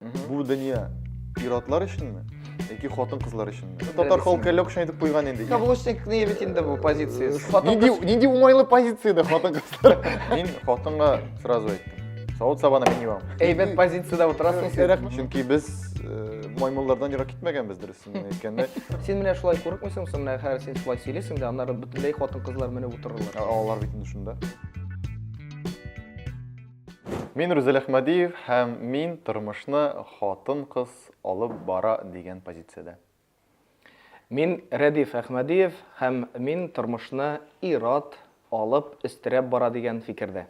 Бу дөнья ир-атлар өченме? Яки хатын-кызлар өченме? Татар халкы әллә кайчан әйтеп куйган инде. Каблучникны бит инде бу позициясе. Нинди нинди уңайлы позицияда хатын-кызлар? Мин хатынга сразу әйттем. Савыт-сабаны мин юам. Әйбәт позициядә утырасың син. Рәхмәт. Чөнки без э, маймыллардан ерак китмәгәнбез дөресен әйткәндә. Син менә шулай курыкмыйсың, син менә хәзер син шулай сөйлисең дә, аннары бөтенләй хатын-кызлар менеп утырырлар. Алар бит инде шунда. Мин Рүзәл Әхмәдиев һәм мин тормышны хатын-кыз алып бара дигән позициядә. Мин Рәдиф Әхмәдиев һәм мин тормышны ир-ат алып, өстерәп бара дигән фикердә.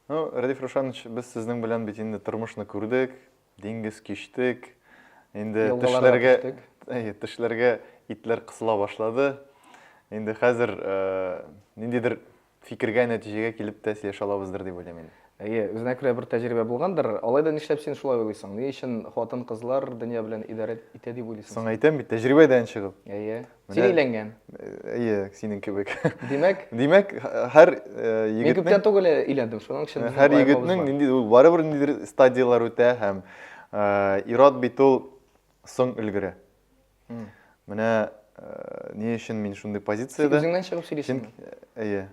Ну, Радиф Рушанович, без сезнең белән бит инде тормышны күрдек, диңгез кичтек, инде тешләргә, тешләргә итләр кысыла башлады. Инде хәзер э, ниндидер фикергә, нәтиҗәгә килеп тә сөйләшә алабыздыр дип уйлыйм инде. Әйе, үзенә күрә бер тәҗрибә булгандыр. Алай да нишләп син шулай уйлыйсың? Ни өчен хатын-кызлар дөнья белән идарә итә дип уйлыйсың? Соң әйтәм бит, тәҗрибәдән чыгып. Әйе. Син өйләнгән? Әйе, синең кебек. Димәк? Димәк, һәр егетнең... Мин күптән түгел өйләндем, шуның өчен... Һәр егетнең нинди, ул барыбер ниндидер стадияләр үтә һәм ират бит ул соң өлгере. Менә ни өчен мин шундый позициядә... Син үзеңнән чыгып сөйлисеңме? Әйе.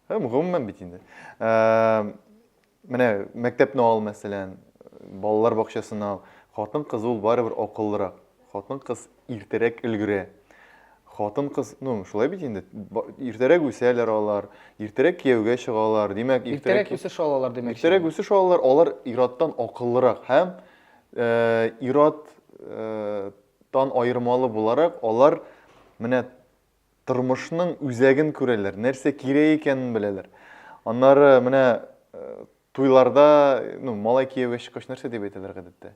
Һәм гомумән бит инде. Менә мәктәпне ал, мәсәлән, балалар бакчасын ал. Хатын-кыз ул барыбер акыллырак. Хатын-кыз иртәрәк өлгерә. Хатын-кыз, ну, шулай бит инде, иртәрәк үсәләр алар, иртәрәк кияүгә чыгалар, димәк, иртәрәк үсеш алалар, димәк. Иртәрәк үсеш алалар, алар ираттан акыллырак һәм ираттан аермалы буларак, алар менә тормышның үзәген күрәләр, нәрсә кирәк икәнен беләләр. Аннары менә туйларда, ну, малай кияүгә чыккач нәрсә дип әйтәләр гадәттә?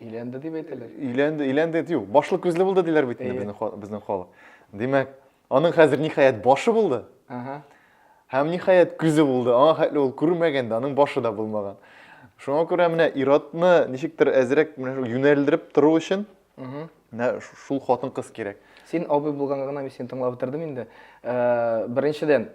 Өйләнде дип әйтәләр. Өйләнде, өйләнде, юк, башлы күзле булды диләр бит инде безнең безнең халык. Димәк, аның хәзер ниһаять башы булды. Ага. Һәм ниһаять күзе булды. Аңа хәтле ул күрмәгән дә, аның башы да булмаган. Шуңа күрә менә иратны ничектер әзрәк менә юнәлдереп тору өчен Менә шул хатын-кыз кирәк. Син абый булганга гына мин сине тыңлап бетердем инде. Э, беренчедән,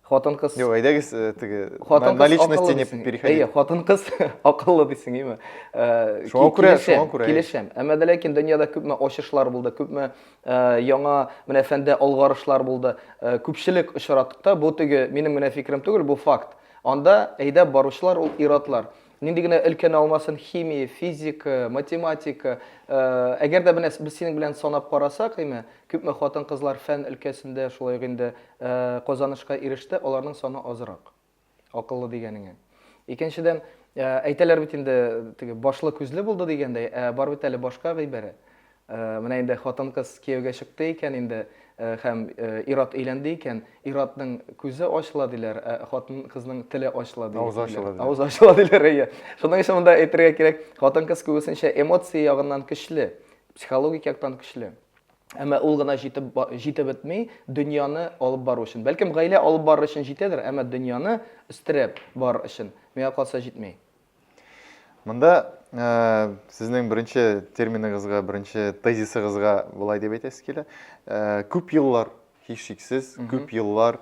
хатын-кыз Юк, әйдәгез э, теге на личности не переходи. Әйе, хатын-кыз акыллы дисең, име? Э, шуңа күрә, шуңа күрә. Килешәм. Әмма дә ләкин дөньяда күпме ачышлар булды, күпме яңа менә фәндә алгарышлар булды. Күпчелек очратыкта бу теге минем генә фикерем түгел, бу факт. Анда әйдәп баручылар ул иратлар. Нинди генә өлкәне алмасын, химия, физика, математика, әгәр дә менә без синең белән санап карасак, әйме, күпме хатын-кызлар фән өлкәсендә шулай ук инде казанышка иреште, аларның саны азрак. Акыллы дигәнеңә. Икенчедән, әйтәләр бит инде, теге башлы күзле булды дигәндәй, ә бар бит әле башка гыйбарә. Менә инде хатын-кыз кияүгә чыкты икән инде һәм ир-ат өйләнде икән, ир-атның күзе ачыла, диләр, ә хатын-кызның теле ачыла, диләр. Авызы ачыла, диләр. Авызы ачыла, диләр, әйе. Шуның өчен монда әйтергә кирәк, хатын-кыз күбесенчә эмоция ягыннан көчле, психологик яктан көчле. Әмма ул гына җитеп җитеп бетми, дөньяны алып бару өчен. Бәлкем, гаилә алып барыр өчен җитәдер, әмма дөньяны өстерәп барыр өчен, миңа калса, җитми. Монда ә, сезнең беренче терминыгызга, беренче тезисыгызга болай дип әйтәсе килә. Ә, күп еллар, һичшиксез, күп еллар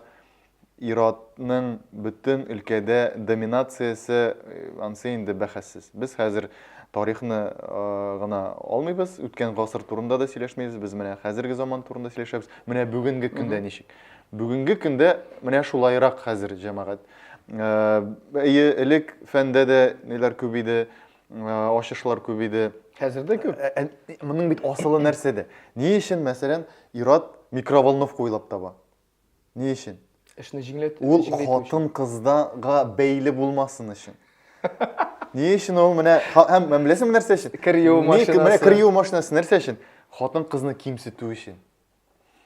иратның бөтен өлкәдә доминациясе э, ансы инде бәхәссез. Без хәзер тарихны э, гына алмыйбыз, үткән гасыр турында да сөйләшмибез, без менә хәзерге заман турында сөйләшәбез. Менә бүгенге көндә ничек? Бүгенге көндә менә шулайрак хәзер җәмәгать. Әйе, элек фәндә дә ниләр күп иде, ачышлар күп иде. Хәзер дә күп. Моның бит асылы нәрсәдә? Ни өчен, мәсәлән, ират микроволновка уйлап таба? Ни өчен? Эшне җиңләтү. Ул хатын кыздага бәйле булмасын өчен. Ни өчен ул менә һәм беләсеңме нәрсә өчен? Кер юу машинасы. Менә кер юу машинасы нәрсә өчен? Хатын кызны кимсетү өчен.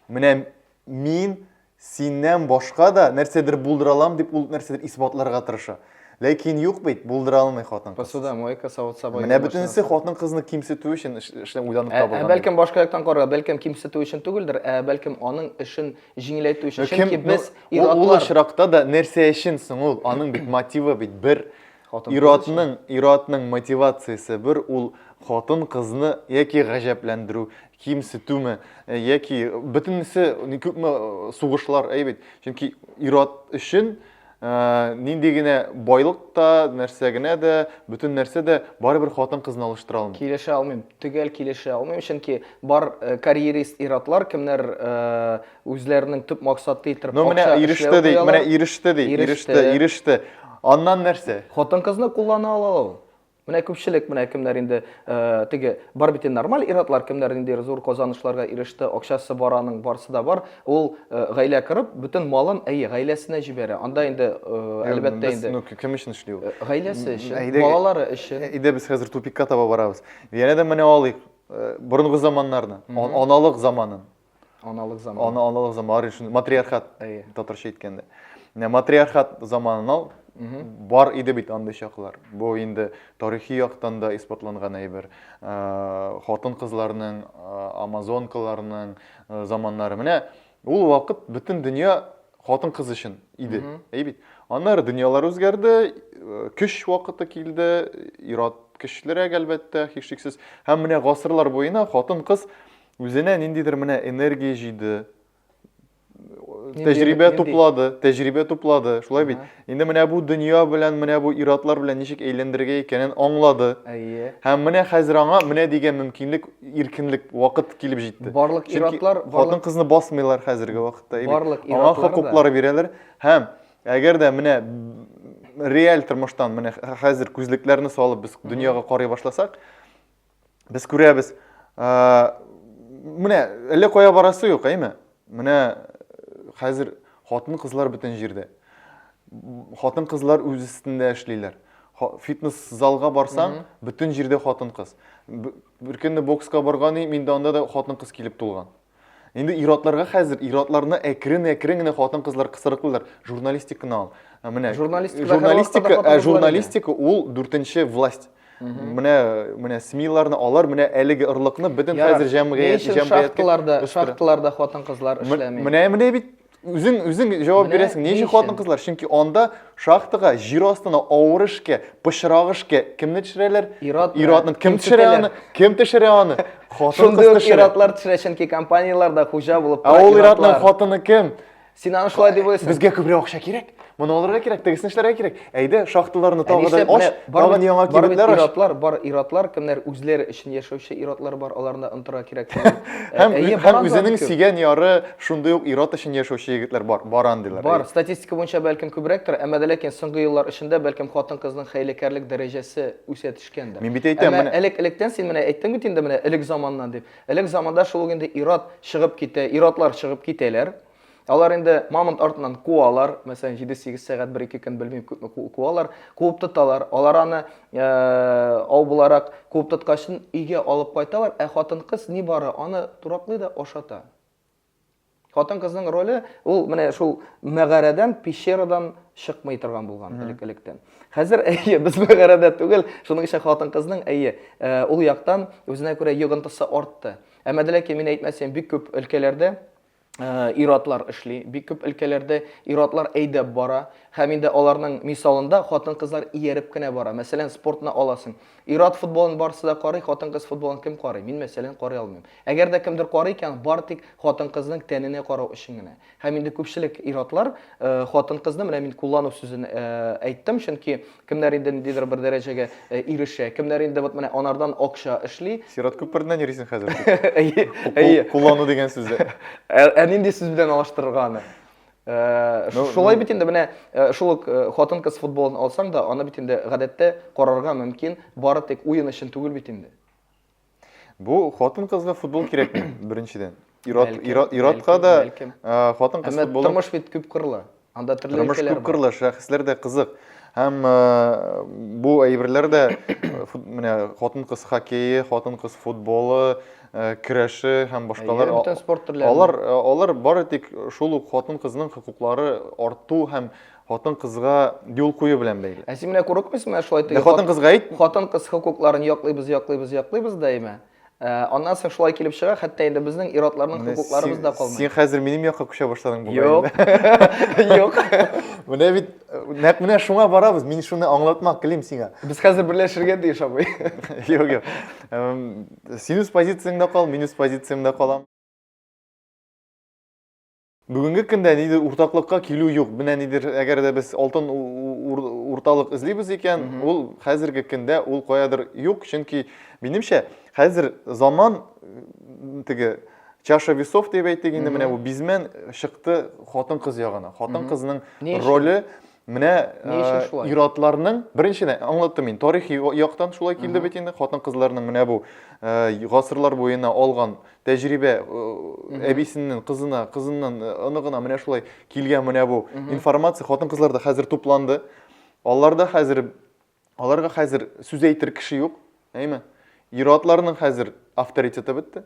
Менә мин синнән башка да нәрсәдер булдыра алам дип ул нәрсәдер исбатларга тырыша. Ләкин юк бит, булдыра алмый хатын. Посуда, мойка, савыт саба. Менә бөтенесе хатын кызны кимсетү өчен эшләп уйланып табылган. Ә бәлкем башка яктан карарга, бәлкем кимсетү өчен түгелдер, ә бәлкем аның эшен җиңеләйтү өчен. Чөнки без ир-атлар. Ул очракта да нәрсә өчен соң ул? Аның бит мотивы бит бер, Хатын Ир-атның, ир-атның мотивациясе бер, ул хатын-кызны яки гаҗәпләндерү, кимсетүме, э, яки бөтенесе ни күпме э, сугышлар, әй бит. Чөнки ир-ат өчен э, нинди генә байлык та, нәрсә генә дә, бөтен нәрсә дә барыбер хатын-кызны алыштыра алмый. Килешә алмыйм, төгәл килешә алмыйм, чөнки бар э, карьерист ир-атлар, кемнәр э, Үзләренең төп максаты итеп Но менә иреште ди, менә иреште ди, иреште, иреште. Аннан нәрсә? Хатын-кызны куллана алалар ул. Менә күпчелек менә кемнәр инде э, теге бар бит нормаль иратлар кемнәр инде зур казанышларга иреште, акчасы бар аның, барсы да бар. Ул э, гаилә корып, бөтен малын әйе гаиләсенә җибәрә. Анда инде э, әлбәттә инде. Ну, кем өчен эшли ул? Гаиләсе өчен, балалары өчен. Әйдә без хәзер тупикка таба барабыз. Янә дә менә алыйк. Борынгы заманнарны, аналык заманын. Аналык заманы. Ана, аналык заманы, шуны матриархат Әйе. татарча әйткәндә. Менә матриархат заманына бар иде бит андый чаклар. Бу инде тарихи яктан да исбатланган әйбер. Э, Хатын-кызларның, э, амазонкаларның э, заманнары. Менә ул вакыт бөтен дөнья хатын-кыз өчен иде. Әй бит. Аннары дөньялар үзгәрде, э, көч вакыты килде, ират көчлерәк әлбәттә, һичшиксез. Һәм менә гасырлар буена хатын-кыз Үзенә ниндидер менә энергия җыйды, тәҗрибә туплады, тәҗрибә туплады, шулай бит. Инде менә бу дөнья белән, менә бу иратлар белән ничек әйләндерергә икәнен аңлады. Әйе. Һәм менә хәзер аңа менә дигән мөмкинлек, иркенлек, вакыт килеп җитте. Барлык иратлар, хатын кызны басмыйлар хәзерге вакытта. Барлык иратлар. Аңа хокуклар бирәләр. Һәм әгәр дә менә реаль тормыштан менә хәзер күзлекләрне салып без дөньяга карый башласак, без күрәбез. Менә әллә кая барасы юк, әйме? Менә хәзер хатын-кызлар бөтен җирдә. Хатын-кызлар үз өстендә эшлиләр. Фитнес залга барсаң, бөтен җирдә хатын-кыз. Бер көнне бокска барган идем, инде анда да хатын-кыз килеп тулган. Инде иратларга хәзер, иратларны әкрен-әкрен генә хатын-кызлар кысырыклыйлар. Журналистик кына ул. Ә Менә Журналистика һәрвакытта да журналистика, хатын-кызлар ә, инде. журналистика ул дүртенче власть. Менә менә СМИларны алар менә әлеге орлыкны бөтен Ярар. хәзер Ни җәмгыять өчен җәмгыятькә шахталарда, үстерә. шахталарда хатын-кызлар М- эшләми? Менә менә бит Үзең үзең җавап Менә бирәсең. Ни ни өчен өчен? хатын-кызлар? Чөнки анда шахтага җир астына авыр эшкә, пычрак эшкә кемне төшерәләр? Ир-ат менә. Ир-атны кем төшерә Кимсетәләр. аны? Кем төшерә аны? Хатын-кыз Шундый ук төшерә. ир-атлар төшерә, чөнки компанияләрдә хуҗа булып Ә тора ул ир-атның ир-атлар. хатыны кем? Син аны шулай дип уйлыйсың. Безгә күбрәк акча кирәк. Моны алырга кирәк, тегесен эшләргә кирәк. Әйдә, шахталарны тагы да аш, тагын яңа кибетләр аш. Иратлар, бар иратлар, кемнәр үзләре өчен яшәүче иратлар бар, аларны онтырга кирәк. Һәм һәм үзенең сөйгән яры шундый ук ират өчен яшәүче егетләр бар, баран диләр. Бар, статистика буенча бәлкем күбрәктер, әмма ләкин соңгы еллар эчендә бәлкем хатын-кызның хәйләкәрлек дәрәҗәсе үсә төшкәндер. Мин бит әйтәм, менә элек-электән син менә әйттең бит инде менә элек заманнан дип. Элек заманда шул инде ират чыгып китә, иратлар чыгып китәләр. Алар инде мамонт артыннан куалар, мәсәлән, 7-8 сәгать, 1-2 көн белмим күпме куалар, куып тоталар. Алар аны э, ау буларак куып тоткач өйгә алып кайталар, ә хатын-кыз ни бары аны тураклый да ашата. Хатын-кызның роле ул менә шул мәгарәдән, пещерадан чыкмый торган булган элек-электән. Хәзер әйе, без мәгарәдә түгел, шуның өчен хатын-кызның әйе, э, ул яктан үзенә күрә йогынтысы артты. Әмма дә ләкин мин әйтмәсем, бик күп өлкәләрдә ир-атлар эшли, бик күп өлкәләрдә ир-атлар әйдәп бара, һәм инде аларның мисалында хатын-кызлар ияреп кенә бара. Мәсәлән, спортны аласың. Ир-ат футболын барысы да карый, хатын-кыз футболын кем карый? Мин, мәсәлән, карый алмыйм. Әгәр дә кемдер карый икән, бары тик хатын-кызның тәненә карау өчен генә. Һәм инде күпчелек ир-атлар, э, хатын-кызны, менә мин куллану сүзен э, әйттем, чөнки Кемнәр инде ниндидер бер дәрәҗәгә ирешә, кемнәр инде вот менә анардан акча эшли. Сират күпереннән йөрисең хәзер. Әйе, әйе. Куллану дигән сүз. Ә нинди сүз белән алыштырырга аны? Э, ну, шулай ну. бит инде менә э, шул ук э, хатын кыз футболын алсаң да аны бит инде гадәттә карарга мөмкин бары тик уен өчен түгел бит инде Бу хатын-кызга футбол кирәкми, беренчедән. Ират, Бәлкем, ират, иратка бәлкем, да бәлкем. ә, хатын-кыз Әмма футболы тормыш бит күп кырлы. Анда төрле тормыш өлкәләр күп бар. кырлы, шәхесләр дә кызык. Һәм ә, бу әйберләр дә фут- менә хатын-кыз хоккее, хатын-кыз футболы, ә, көрәше һәм башкалар. Әйе, бөтен спорт төрләрен. Алар, алар бары тик шул ук хатын-кызның хокуклары арту һәм Хатын кызга юл кую белән бәйле. Ә син менә курыкмыйсың, менә шулай теге. Хатын кызга әйт. Хатын кыз хокукларын яклыйбыз, яклыйбыз, яклыйбыз даимә. Э, аннан соң шулай килеп чыга, хәтта инде безнең ир-атларның хокукларыбыз да калмый. Син хәзер минем якка күчә башладың бу. Юк. Юк. Менә бит нәкъ менә шуңа барабыз. Мин шуны аңлатмак телим сиңа. Без хәзер берләшергә тиеш абый. Юк, юк. Син үз позицияңдә кал, мин үз позициямдә калам. Бүгенге көндә нидер уртаклыкка килү юк. Менә нидер, әгәр дә без алтын урталык эзлибез икән, ул хәзерге көндә ул каядыр юк, чөнки минемчә хәзер заман теге чаша весов дип әйтик инде, менә бу бизмен чыкты хатын-кыз ягына. Хатын-кызның роле Менә ир-атларның, беренчедән, аңлаттым мин, тарихи яктан шулай килде бит инде, хатын-кызларның менә бу гасырлар буена алган тәҗрибә әбисеннән кызына, кызыннан оныгына менә шулай килгән менә бу информация хатын-кызларда хәзер тупланды. Аларда хәзер Аларга хәзер сүз әйтер кеше юк, әйме? Иратларның хәзер авторитеты бетте,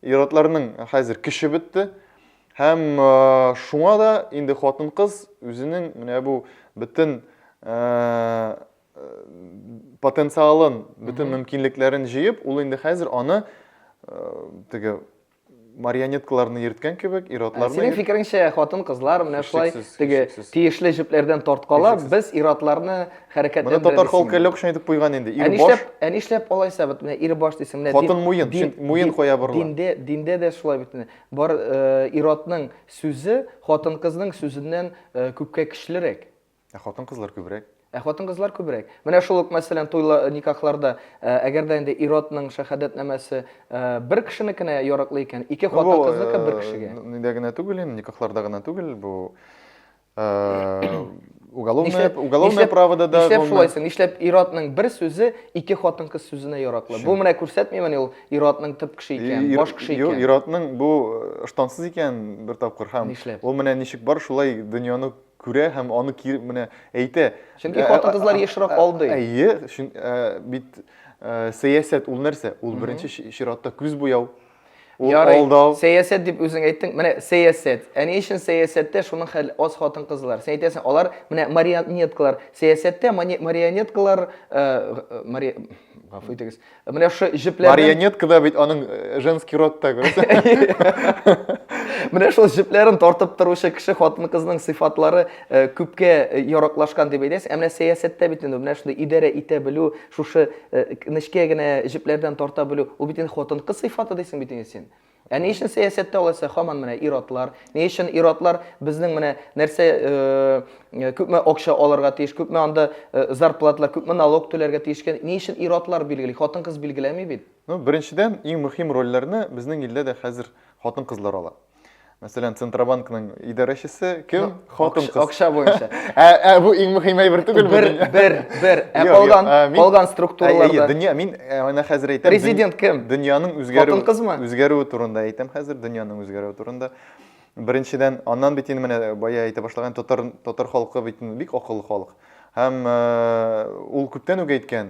иратларның хәзер көче бетте. Һәм шуңа да инде хатын-кыз үзенең менә бу бөтен потенциалын, бөтен мөмкинлекләрен җыеп, ул инде хәзер аны теге марионеткаларны йөрткән кебек, ир-атларны Синең йөрт- фикереңчә, хатын-кызлар менә шулай Һичшиксез, теге һичшиксез. тиешле җепләрдән тарткалап, Һичшиксез. без ир-атларны Моны татар хәрәкәтләндерәбез. халкы әллә кайчан әйтеп куйган инде. Ә Ир баш, нишләп, ә нишләп алайса бит менә ир баш дисең менә Хатын дин- муен, дин- чөнки муен дин- кая борыла. Диндә, диндә дә шулай бит менә. Бар э, ир-атның сүзе хатын-кызның сүзеннән э, күпкә көчлерәк. Ә хатын-кызлар күбрәк? Ә хатын-кызлар күбрәк. Менә шул ук, мәсәлән, туйлар, никахларда, ә, әгәр дә инде ир-атның шәһадәтнамәсе, ә, бер кешенекенә ярыклы икән, ике Ну, бу, хатын-кызныкы бер кешегә. э, нидә генә түгел инде, никахларда гына түгел, бу, э, уголовное, Нишләп, уголовное нишләп, правода да, нишләп гомумән. шулай соң? Нишләп ир-атның бер сүзе ике хатын-кыз сүзенә яраклы? Бу Чөн- менә күрсәтмимени ул ир-атның төп кеше икән, Ир- баш кеше Юк, икән? ир-атның бу ыштансыз икән бер тапкыр һәм Нишләп? ул менә ничек бар, шулай дөньяны Күрә һәм аны кире менә әйтә. Чөнки хатын-кызлар ешрак алдый. Әйе, бит сәясәт ул нәрсә? Ул беренче чиратта күз буяу, ул алдау. Сәясәт дип үзең әйттең. Менә сәясәт. Ә ни өчен сәясәттә шуның хәл аз хатын-кызлар? Син әйтәсең, алар менә марионеткалар. Сәясәттә марионеткалар, гафу итегез, Ә менә шушы җепләрдән... Марионеткада бит аның э, женский род та, күрәсең. Менә шул җепләрен тартып торучы кеше хатын-кызның сыйфатлары э, күпкә э, яраклашкан дип әйтәсез. Ә менә сәясәттә бит инде менә шундый идарә итә белү, шушы нечкә генә җепләрдән тарта белү, ул бит инде хатын-кыз сыйфаты дисең бит инде син. Ә ни өчен сәясәттә алайса хаман менә ир-атлар? Ни өчен ир-атлар безнең менә нәрсә э, э, күпме акча алырга тиеш, күпме анда э, зарплаталар, күпме налог түләргә тиеш икән? Ни өчен ир-атлар билгели? Хатын-кыз билгеләми бит. Ну, беренчедән, иң мөһим рольләрне безнең илдә дә хәзер хатын-кызлар ала. Мәсәлән, Центробанкның идарәчесе кем? Хатын кыз. Акча буенча. Ә, ә бу иң мөһим әйбер түгелме? Бер, бер, бер. Ә калган, калган структураларда. Дөнья, мин менә хәзер әйтәм. Президент кем? Дөньяның үзгәрү. Хатын кызмы? Үзгәрүе турында әйтәм хәзер, дөньяның үзгәрүе турында. Беренчедән, аннан бит инде менә бая әйтә башлаган татар татар халкы бит бик акыллы халык. Һәм ул күптән үк әйткән,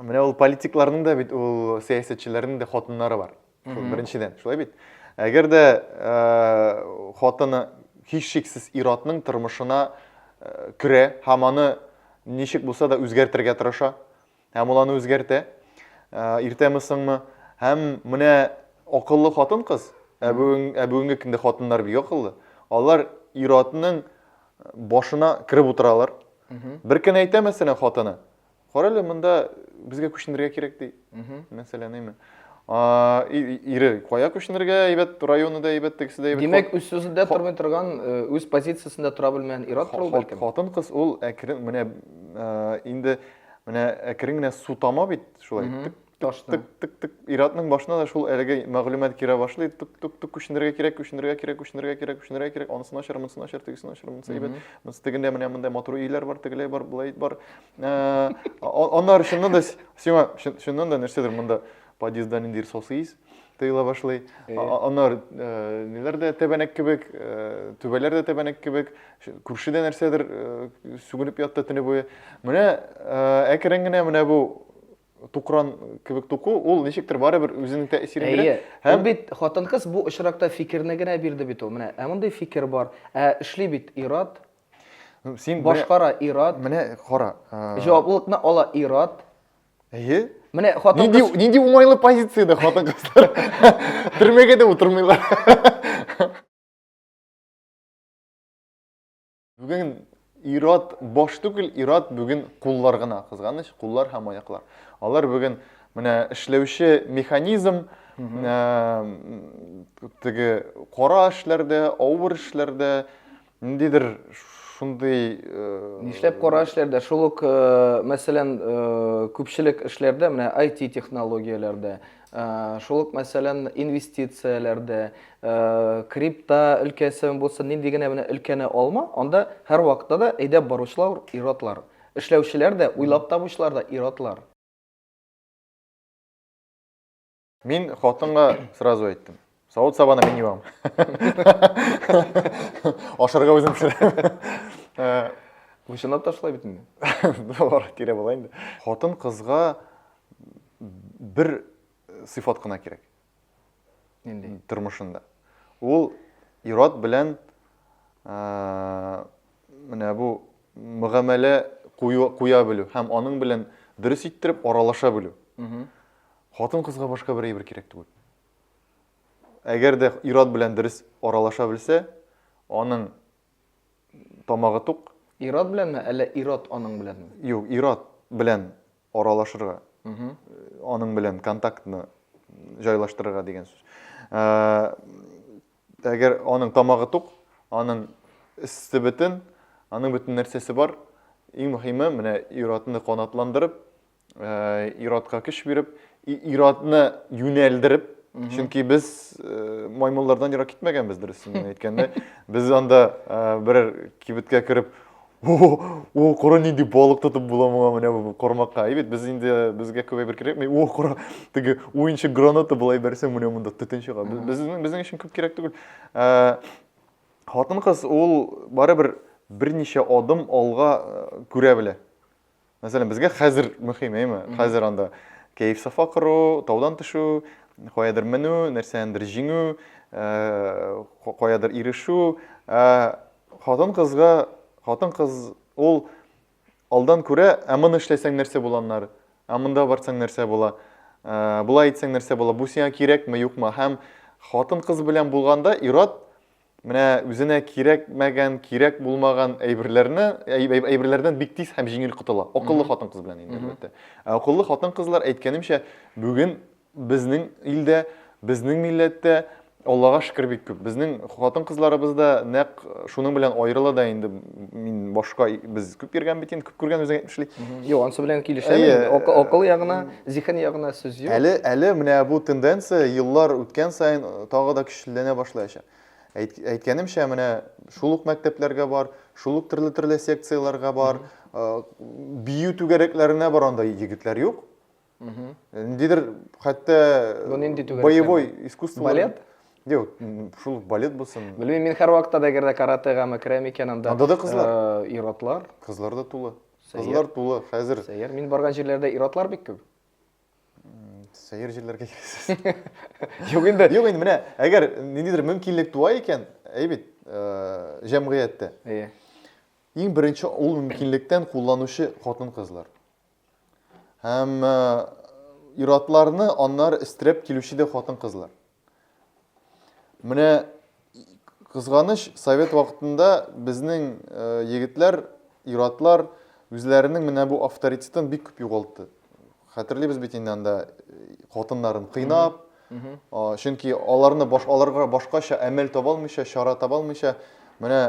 Менә ул политикларның да бит ул сәясәтчеләрнең дә хатыннары бар. Беренчедән, шулай бит. Әгәр дә э, хатыны һичшиксез ир-атның тормышына э, керә һәм аны ничек булса да үзгәртергә тырыша, һәм ул аны үзгәртә, э, иртәме соңмы, һәм менә акыллы хатын-кыз, ә бүген ә бүгенге көндә хатыннар бик акыллы, алар ир-атның башына кереп утыралар. Бер көн әйтә мәсәлән хатыны, Карале, монда безгә күченергә кирәк ди. Мәсәлән, әйме. Ире, кая күченергә, әйбәт, районы да әйбәт, тегесе дә әйбәт. Димәк, үз сүзендә тормый торган, үз позициясендә тора белмәгән ир-ат ул бәлкем. Хатын кыз ул әкрен, менә инде менә әкрен генә су тама бит, шулай итеп. Ташны. Тык, тык, тык. Иратның башына да шул әлеге мәгълүмат керә башлый. Тук, тук, тук, күченергә кирәк, күченергә кирәк, күченергә кирәк, күченергә кирәк. Анысын ачар, монысын ачар, тегесен ачар, монысын әйбәт. Монысы тегендә менә мондай матур өйләр бар, тегеләй бар, булай бар. Э, аннары чыннан да сиңа чыннан да нәрсәдер монда подъездда ниндидер сасы ис тыела башлый. Э. Аннары э, ниләр дә тәбәнәк кебек, түбәләр дә тәбәнәк кебек, күршедә нәрсәдер сүгенеп ятты төне буе. Менә әкрен генә менә бу тукран кебек туку, ул ничектер барыбер үзенең тәэсирен бирә. Әйе. Һәм бит хатын-кыз бу очракта фикерне генә бирде бит ул. Менә, ә мондый фикер бар. Ә эшли бит ират. Син башкара ират. Менә кара. Җаваплылыкны ала ират. Әйе. Менә хатын кыз Нинди нинди уңайлы позициядә хатын кызлар. Төрмәгә дә утырмыйлар. Бүген ират баш түгел, ират бүген куллар гына, кызганыч, куллар һәм аяклар. Алар бүген менә эшләүче механизм, ә, теге кара эшләрдә, авыр эшләрдә, ниндидер шундый э, Нишләп кара эшләрдә, шул ук, э, мәсәлән, э, күпчелек эшләрдә, менә IT технологияләрдә, Шул ук, мәсәлән, инвестицияләрдә, крипта өлкәсен булсын, нинди генә менә өлкәне алма, анда һәрвакытта да әйдәп баручылар ир-атлар. Эшләүчеләр дә, уйлап табучылар да ир-атлар. Мин хатынга сразу әйттем. Савыт сабаны мин юам. Ашарга үзем пешерәм. Э, Вышынап ташлай бит инде. Бар, кире була инде. Хатын кызга бер сыйфат кына кирәк. Нинди? Тормышында. Ул ират белән э, менә бу мөгамәлә куя белү һәм аның белән дөрес иттереп аралаша белү. Хатын кызга башка бер әйбер кирәк түгел. Әгәр дә ир-ат белән дөрес аралаша белсә, аның тамагы тук. Ир-ат беләнме, әллә ир-ат аның беләнме? Юк, ир-ат белән аралашырга, аның белән контактны җайлаштырырга дигән сүз. Әгәр аның тамагы тук, аның эссе бөтен, аның бөтен нәрсәсе бар, иң мөһиме, менә ир-атны канатландырып, Ир-атка көч биреп, ир-атны юнәлдереп, чөнки без маймыллардан ерак китмәгәнбез, дөресен генә әйткәндә. Без анда берәр кибеткә кереп, О, кара нинди балык тотып була моңа менә бу кармакка. Әйбәт, без инде безгә күп әйбер кирәкми. О, кара, теге уенчы граната була әйберсең, менә монда төтен чыга. Безнең безнең өчен күп кирәк түгел. Э, Хатын-кыз ул барыбер берничә адым алга э, күрә белә. Мәсәлән, безгә хәзер мөһим, әйме? Хәзер анда кәеф сафа кору, таудан төшү, каядыр менү, нәрсәндер җиңү, э, каядыр ирешү. Э, хатын кызга, хатын кыз ул алдан күрә, ә моны эшләсәң нәрсә буланнар, ә монда барсаң нәрсә була, э, болай итсәң нәрсә була, бу сиңа кирәкме, юкмы? Һәм хатын кыз белән булганда ират Менә үзенә кирәкмәгән, кирәк булмаган әйберләрне, әйберләрдән бик тиз һәм җиңел котыла. Акыллы хатын-кыз белән инде, әлбәттә. Ә акыллы хатын-кызлар, әйткәнемчә, бүген безнең илдә, безнең милләттә, Аллага шөкер бик күп. Безнең хатын-кызларыбыз да нәкъ шуның белән аерыла да инде мин башка без күп йөргән бит инде күп күргән үзең әйтмешли юк анысы белән килешәм акыл ягына зиһен ягына сүз юк әле әле менә бу тенденция еллар үткән саен э, тагы да көчлеләнә башлаячак әйткәнемчә менә шул ук мәктәпләргә бар шул ук төрле төрле секцияләргә бар э, бию түгәрәкләренә бар анда егетләр юк ниндидер хәтта боевой искусство балет Юк, шул балет булсын. Белмим, мин һәрвакытта да әгәр дә каратегамы керәм икән, анда Анда да кызлар. Э, ир-атлар. Кызлар да тулы. Кызлар тулы хәзер. Сәер, мин барган җирләрдә ир-атлар бик күп. Сәер җирләргә кирәксез. Юк инде. Юк инде, менә, әгәр ниндидер мөмкинлек туа икән, әйбит, э, җәмгыятьтә. Әйе. Иң беренче ул мөмкинлектән кулланучы хатын-кызлар. Һәм э, иратларны аннары истереп килүче дә хатын-кызлар. Менә кызганыч, совет вакытында безнең э, егетләр, иратлар үзләренең менә бу авторитетын бик күп югалтты. Хәтерлибез бит инде анда э, хатыннарын кыйнап, Чөнки аларны баш аларга башкача әмәл таба алмыйча, чара таба алмыйча, менә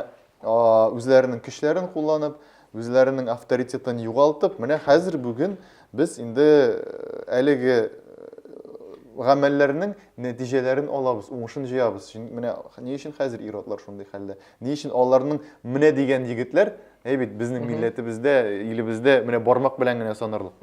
үзләренең көчләрен кулланып, үзләренең авторитетын югалтып, менә хәзер бүген без инде әлеге гамәлләрнең нәтиҗәләрен алабыз, уңышын җыябыз. Менә ни өчен хәзер иродлар шундый хәлдә? Ни өчен аларның менә дигән егетләр, әй бит безнең милләтебездә, илебездә менә бармак белән генә санарлык.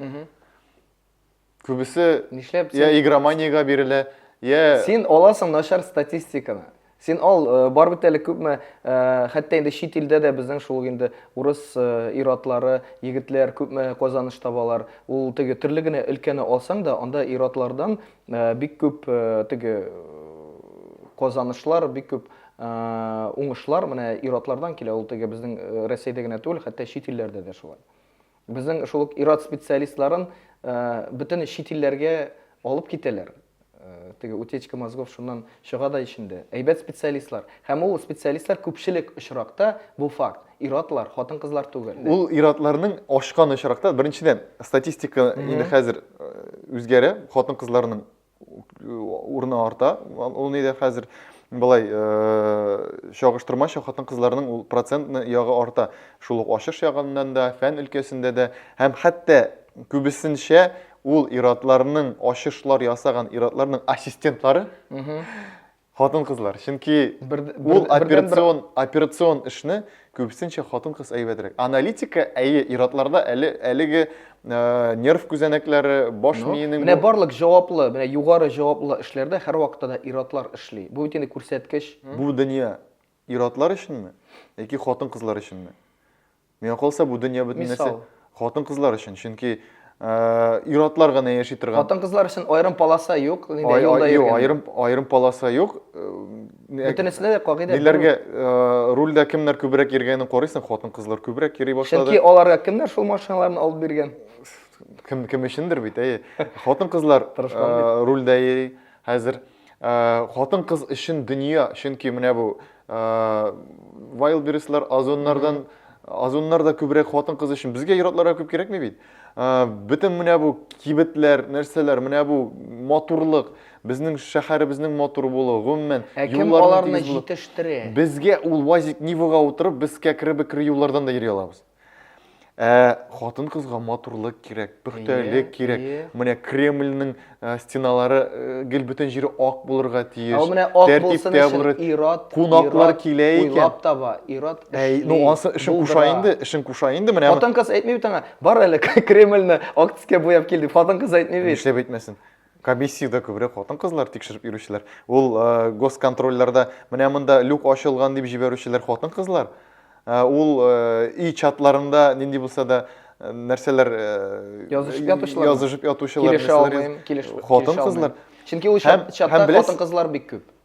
Күбесе Нишләп я син- игроманиягә бирелә, я Син аласың начар статистиканы. Син ал, э, бар бит әле күпме, э, хәтта инде чит илдә дә безнең шул ук инде урыс э, ир-атлары, егетләр күпме казаныш табалар. Ул теге төрле генә өлкәне алсаң да, анда ир-атлардан э, бик күп э, теге э, казанышлар, бик күп э, уңышлар менә ир-атлардан килә. Ул теге безнең э, Рәсәйдә генә түгел, хәтта чит илләрдә дә шулай. Безнең шул ук ир-ат специалистларын бөтен чит илләргә алып китәләр. Теге утечка мозгов шуннан чыга да ичендә. Әйбәт специалистлар. Һәм ул специалистлар күпчелек очракта, бу факт, ир-атлар, хатын-кызлар түгел. Ул ир-атларның ачкан очракта, беренчедән, статистика инде хәзер үзгәрә, хатын-кызларның урыны арта. Ул нидә хәзер былай э, чагыштырмача хатын-кызларның ул процентны ягы арта. Шул ук ачыш ягыннан да, фән өлкәсендә дә һәм хәтта күбесенчә ул иратларның ачышлар ясаган иратларның ассистентлары Хатын-кызлар, чөнки ул операцион, операцион эшне күбесенчә хатын-кыз әйбәтрәк. Аналитика, әйе, иратларда әле әлеге э, нерв күзәнәкләре, баш ну, миенең Менә барлык җаваплы, менә югары җаваплы эшләрдә һәрвакытта да иратлар эшли. Бу бит инде күрсәткеч. Бу дөнья Ир-атлар өченме? Яки хатын-кызлар өченме? Миңа калса, бу дөнья бөтен нәрсә Мисал. хатын-кызлар өчен. Чөнки ә, ир-атлар гына яши торган. Хатын-кызлар өчен аерым полоса юк, инде Ай- юлда ай- юк, йөргәндә. аерым аерым полоса юк. Э, Бөтенесенә дә кагыйдә бер. Ниләргә э, рульдә кемнәр күбрәк йөргәнен карыйсың, хатын-кызлар күбрәк йөри башлады. Чөнки аларга кемнәр шул машиналарны алып биргән? Кем кем өчендер бит, әйе. Хатын-кызлар Тырышман э, рульдә йөри хәзер. Хатын кыз өчен дөнья, чөнки менә бу вайлберслар, озоннардан озоннар да күбрәк хатын кыз өчен. Безгә иратларга күп кирәкми бит. Бөтен менә бу кибетләр, нәрсәләр, менә бу матурлык, безнең шәһәребезнең матур булуы, гомумән, юлларны җитештерә. Безгә ул УАЗик Нивага утырып, без кәкре-бекре юллардан да йөри алабыз. ә хатын кызга матурлык кирәк пөхтәлек кирәк менә кремльнең ә, стеналары ә, гел бөтен җире ак булырга тиеш ә менә ак булсын өчен ират кунаклар килә икән уйлап таба ират әй ну анысы эшен куша инде эшен куша инде менә хатын кыз әйтми бит аңа бар әле кремльне ак төскә буяп кил дип хатын кыз әйтми бит нишләп әйтмәсен Комиссиядә күбрәк хатын-кызлар тикшереп йөрүчеләр. Ул госконтрольләрдә менә монда люк ачылган дип җибәрүчеләр хатын-кызлар. Ул и чатларында нинди булса да нәрсәләр язышып ятучылар. Язышып ятучылар. Килешә алмыйм, килешеп. Хатын-кызлар. Чөнки ул чат хатын-кызлар бик күп.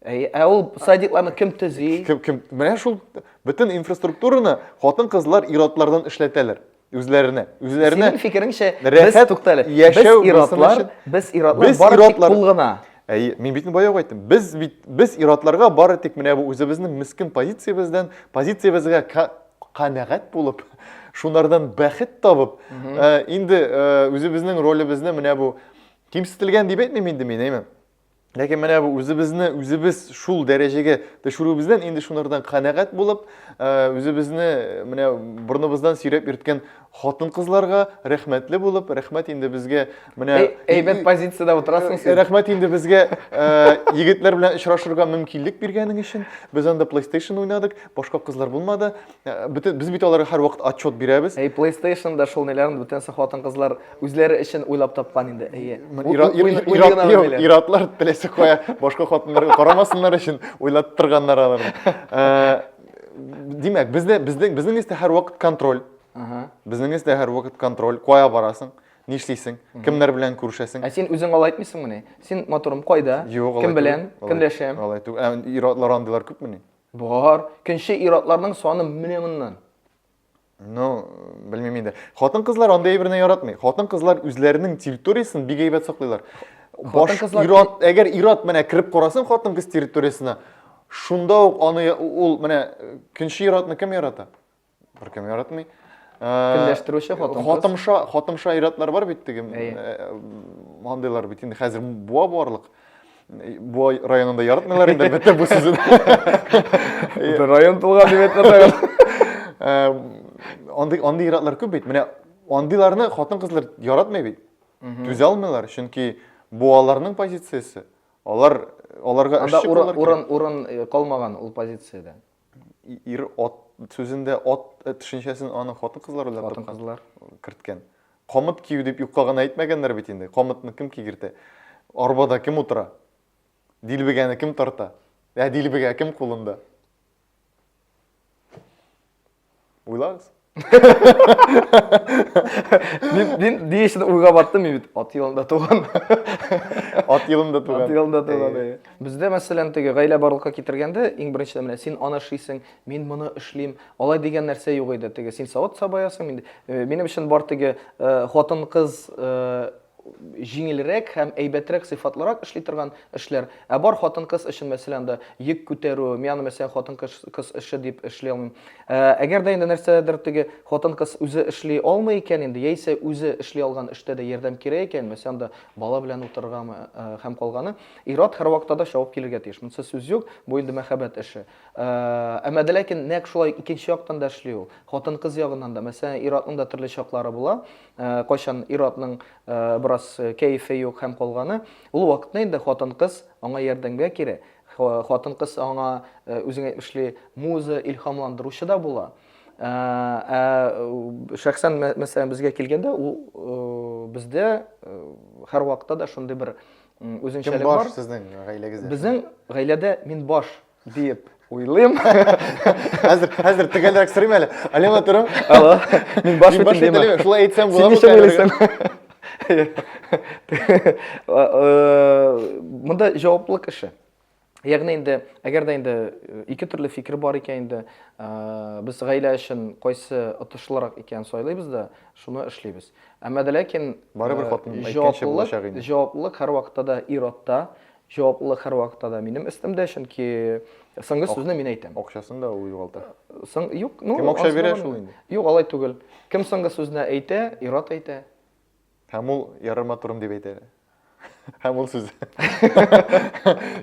Әй, ә ул садикларны кем төзи? Кем, кем, менә шул бөтен инфраструктураны хатын-кызлар ир-атлардан эшләтәләр үзләренә. Үзләренә. Синең фикереңчә, без туктале. Без ир-атлар, без ир-атлар бары тик кул гына. Әй, мин бит бая әйттем. Без бит без ир-атларга бары тик менә бу үзебезнең мискин позициябездән, позициябезгә канәгать булып, шунардан бәхет табып, э, инде э, үзебезнең ролебезне менә бу кимсетелгән дип әйтмим инде мин, әйме? Ләкин менә бу үзебезне үзебез шул дәрәҗәгә төшерүебездән инде шунардан канәгать булып, э, үзебезне э, менә борныбыздан сөйрәп йөрткән хатын-кызларга рәхмәтле булып, рәхмәт инде безгә менә әйбәт позициядә утырасың син. Рәхмәт инде безгә э, егетләр белән очрашырга мөмкинлек биргәнең өчен. Без анда PlayStation уйнадык, башка кызлар булмады. Э, бөтен без бит аларга һәрвакыт отчет бирәбез. Әй, PlayStation да шул неләрен бүтән хатын-кызлар үзләре өчен уйлап тапкан инде. Әйе. Иратлар теләсә кая башка хатыннарга карамасыннар өчен уйлап торганнар алар. Э, димәк, бездә безнең безнең истә һәрвакыт контроль. Безнең истә һәрвакыт контроль. Кая барасың? нишлисең кемнәр белән күрешәсең ә син үзең алай әйтмисеңмени син матурым кайда кем белән кемләшәм алай түгел ә ир-атлар андыйлар күпмени Бар, көнче иратларның саны менә моннан. Ну, белмим инде. Хатын-кызлар андый әйберне яратмый. Хатын-кызлар үзләренең территориясен бик әйбәт саклыйлар. Баш кызлар... ират, әгәр ират менә кереп карасын хатын-кыз территориясенә, шунда ук аны ул менә көнче иратны кем ярата? Беркем яратмый. Көнләштерүче хатын-кыз. Хатымша, хатымша иратлар бар бит теге. Андыйлар бит инде хәзер буа барлык. Бу районында яратмыйлар инде бетә бу сүзен. Бу район тулган дип әйтмәсәгез. Андый андый иратлар күп бит. Менә андыйларны хатын-кызлар яратмый бит. Түзә алмыйлар, чөнки бу аларның позициясе. Алар аларга эш чыгаралар. Анда урын урын калмаган ул позициядә. Ир ат сүзендә ат э, төшенчәсен аны хатын-кызлар уйлап тапкан. Хатын-кызлар. керткән. Камыт кию дип юкка гына әйтмәгәннәр бит инде. Камытны кем кигертә? Арбада кем утыра? Дилбегәне кем тарта? Ә дилбегә кем кулында? Уйлагыз. Мин мин ни өчен уйга баттым мин бит ат елында туган. Ат елында туган. Ат елында туган. Э. Бездә мәсәлән теге гаилә барлыкка китергәндә иң беренче менә син аны эшлисең, мин моны эшлим. Алай дигән нәрсә юк иде. Теге син савыт сабаясың, мин э, минем өчен бар теге э, хатын-кыз җиңелрәк һәм әйбәтрәк сыйфатлырак эшли торган эшләр, ә бар хатын-кыз өчен, мәсәлән, анда йөк күтәрү, мин аны, мәсәлән, хатын-кыз эше дип эшли алмыйм. Әгәр дә инде нәрсәдер теге хатын-кыз үзе эшли алмый икән инде, яисә үзе эшли алган эштә дә ярдәм кирәк икән, мәсәлән, анда бала белән утырыргамы һәм калганы, ир-ат һәрвакытта да чабып килергә тиеш. Монысы сүз юк, бу инде мәхәббәт эше. Әмма дә ләкин нәкъ шулай икенче яктан да эшли ул. Хатын-кыз ягыннан да, мәсәлән, ир-атның да төрле чаклары була. Ә, кайчан ир-атның ә, бераз кәефе юк һәм калганы, ул вакытны инде хатын-кыз аңа ярдәмгә кирәк. Ха, хатын-кыз аңа, ә, үзең әйтмешли, муза, илһамландыручы да була. Ә, ә шәхсән, мәс мәсәлән, безгә килгәндә, ул, ы, бездә, ы, һәрвакытта да шундый бер, м, Кем үзенчәлек бар. баш сезнең гаиләгездә? Безнең гаиләдә мин баш. Диеп уйлыйм. Хәзер хәзер төгәлрәк сорыйм әле. Алема турым. Алло. Мин баш баш әйтәм. Шулай әйтсәм була бу. Син уйлыйсың? Монда җаваплылык эше. Ягъни инде, әгәр дә инде э, ике төрле фикер бар икән инде, э, без гаилә өчен кайсы отышлырак икән сайлыйбыз да, шуны эшлибез. Әмма дә ләкин барыбер э, хатын әйткәнчә булачак инде. Җаваплылык һәрвакытта да ир-атта, Җаваплылык һәрвакытта да минем өстемдә, чөнки соңгы сүзне мин әйтәм. Акчасын да ул югалта. Соң, юк, ну, Кем акча бирә шул инде? Юк, алай түгел. Кем соңгы сүзне әйтә, ир-ат әйтә. Һәм ул ярыма турым дип әйтә. Һәм ул сүз.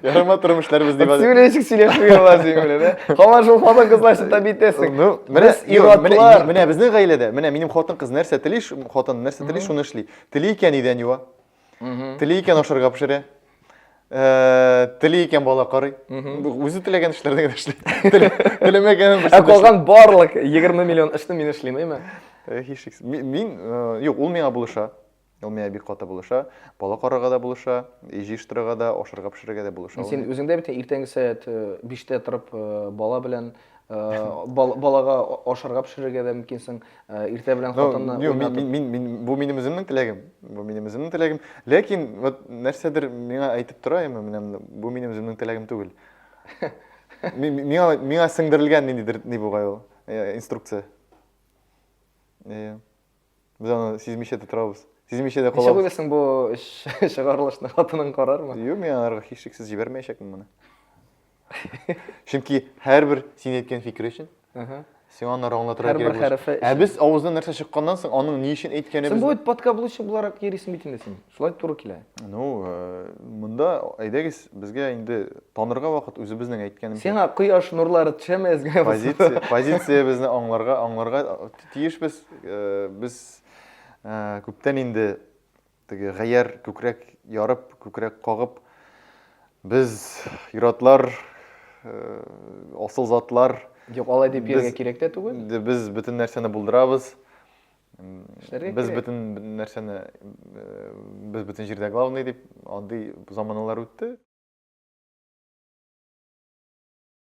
Ярыма турым эшләр без дип. Син ничек сөйләшмәгән ла син белән, ә? Һаман шул хатын кызлар өчен тәби итәсең. Ну, менә ир-атлар. Менә безнең гаиләдә, менә минем хатын кыз нәрсә тели, хатын нәрсә тели, шуны эшли. Тели икән идән юа. Тели икән ашарга пешерә. Э, тели икән бала карый. Үзе теләгән эшләрне генә эшли. Теләмәгәнен Ә калган барлык 20 миллион эшне мин эшлим, әйме? Э, һичшиксез. Мин, э, юк, ул миңа булыша. Ул миңа бик каты булыша. Бала карарга да булыша, җыештырырга да, ашарга пешерергә дә булыша. Син үзеңдә бит иртәнге сәгать 5-тә торып бала белән балага ашарга пешерергә дә мөмкинсең. Э, иртә белән хатынны ну, мин, мин, мин, мин, бу минем үземнең теләгем бу минем үземнең теләгем ләкин вот нәрсәдер миңа әйтеп тора яме менә бу минем үземнең теләгем түгел миңа миңа сеңдерелгән ниндидер ни бугай ул э, инструкция э, без аны сизмичә дә торабыз сизмичә дә калабыз ничек уйлыйсың бу чыгарылышны хатының карармы юк мин аларга һичшиксез җибәрмәячәкмен моны Чөнки һәрбер син әйткән фикер өчен сиңа аны аңлатырга кирәк. Һәрбер хәрефе. Ә без авыздан нәрсә чыкканнан соң, аның ни өчен әйткәнебез. Син бу бит подкаблучы буларак йөрисең бит инде син. Шулай туры килә. Ну, э, монда әйдәгез, безгә инде танырга вакыт үзебезнең әйткәнебез. Сиңа кояш нурлары төшәме әзгә? Позиция, позициябезне аңларга, аңларга тиешбез. Э, без э, күптән инде Теге Гаяр күкрәк ярып, күкрәк кагып, без юратлар, э, асыл затлар. Юк, алай дип йөрергә кирәк тә түгел. Без бөтен нәрсәне булдырабыз. Без бөтен нәрсәне э, без бөтен җирдә главный дип андый заманалар үтте.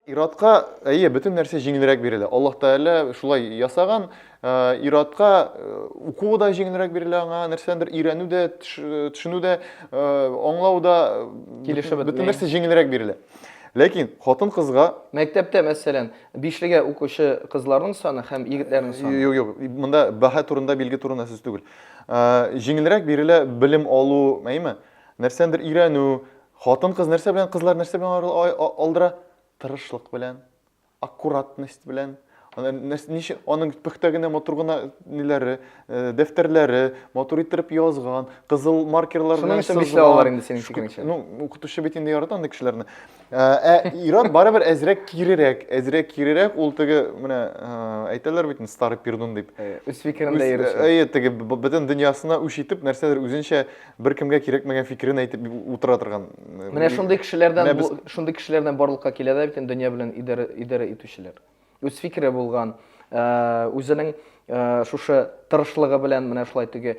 Иратка, әйе, бөтен нәрсә җиңелрәк бирелә. Аллаһ Тәгалә шулай ясаган. Э, иратка э, укуы да җиңелрәк бирелә аңа, нәрсәдер өйрәнү дә, төшенү дә, э, аңлау да килешеп бөтен нәрсә җиңелрәк бирелә. Ләкин хатын кызга мәктәптә мәсәлән, бишлегә укучы кызларның саны һәм егетләрнең саны. Юк, юк, монда баһа турында, билге турында сүз түгел. Җиңелрәк бирелә белем алу, әйеме? Нәрсәдер өйрәнү, Хатын-кыз нәрсә белән, кызлар нәрсә белән арыл- ай- а- алдыра? Тырышлык белән, аккуратность белән. Ана нәрс- Ничә аның пөхтә генә, матур гына ниләре, э, дәфтәрләре, матур иттереп язган, кызыл маркерлар Шуның белән өчен сызган. бишләп алалар инде синең Шк- фикереңчә. Ну, укытучы бит инде ярата андый кешеләрне. Э, Ә ир-ат барыбер әзрәк кирерәк, әзрәк кирерәк, ул теге менә э, әйтәләр бит инде старый пердун дип. Э, Үз фикерендә Үз- йөрүче. Әйе, теге б- бөтен дөньясына үч итеп, нәрсәдер үзенчә бер кемгә кирәкмәгән фикерен әйтеп утыра торган. Э, Менә шундый кешеләрдән Менә без... шундый кешеләрдән барлыкка килә дә бит инде дөнья белән идарә идарә итүчеләр. Үз фикере булган, э, үзенең э, шушы тырышлыгы белән менә шулай теге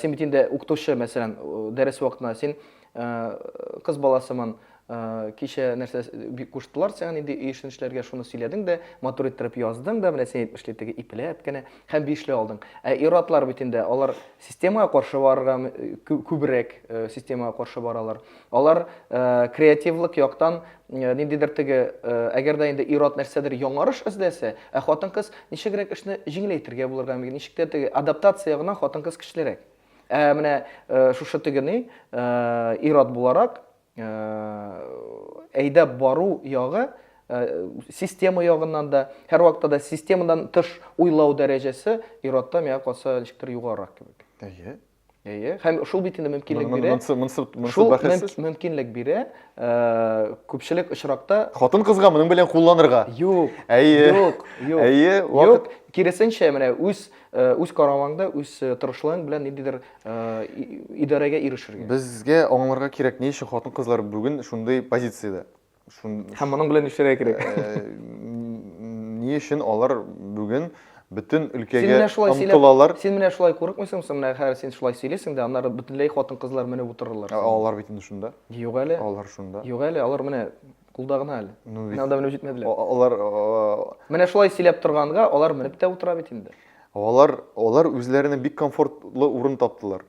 син бит инде укытучы, мәсәлән, дәрес вакытында син кыз баласымын, Ә, кичә нәрсә бик куштылар сиңа нинди өй эшен эшләргә, шуны сөйләдең дә, матур иттереп яздың да, менә син әйтмешли теге ипләп кенә һәм бишле алдың. Ә ир-атлар бит инде, алар системага каршы барырга күбрәк системага каршы баралар. Алар креативлык яктан ниндидер теге, әгәр дә инде ир-ат нәрсәдер яңарыш эзләсә, ә хатын-кыз ничегрәк эшне җиңеләйтергә булырга мөмкин, ничек тә теге адаптация гына хатын-кыз көчлерәк. Ә менә шушы тегене ир-ат буларак, әйдәп бару ягы система ягыннан да, һәрвакытта да системадан тыш уйлау дәрәҗәсе ир-атта миңа калса ничектер югарырак кебек. Әйе. Әйе. Һәм шул бит инде мөмкинлек бирә. Монсы монсы монсы бәхәссез. Мөмкинлек бирә. Күпчелек очракта хатын-кызга моның белән кулланырга. Юк. Әйе. Юк. Юк. Әйе. Юк. Киресенчә, менә үз Э, үз карамаңда үз э, тырышлыгың белән ниндидер э, идарәгә ирешергә безгә аңларга кирәк ни өчен хатын кызлар бүген шундый позициядә һәм моның белән нишләргә кирәк ни өчен алар бүген бөтен өлкәгә омтылалар син менә шулай курыкмыйсың менә хәзер син шулай сөйлисең дә аннары бөтенләй хатын кызлар менеп утырырлар алар бит инде шунда юк әле алар шунда юк әле алар менә Кулда гына әле. Ну, Менә анда менеп җитмәделәр. Алар Менә шулай сөйләп торганга, алар менеп тә утыра бит инде. Алар алар үзләренә бик комфортлы урын таптылар.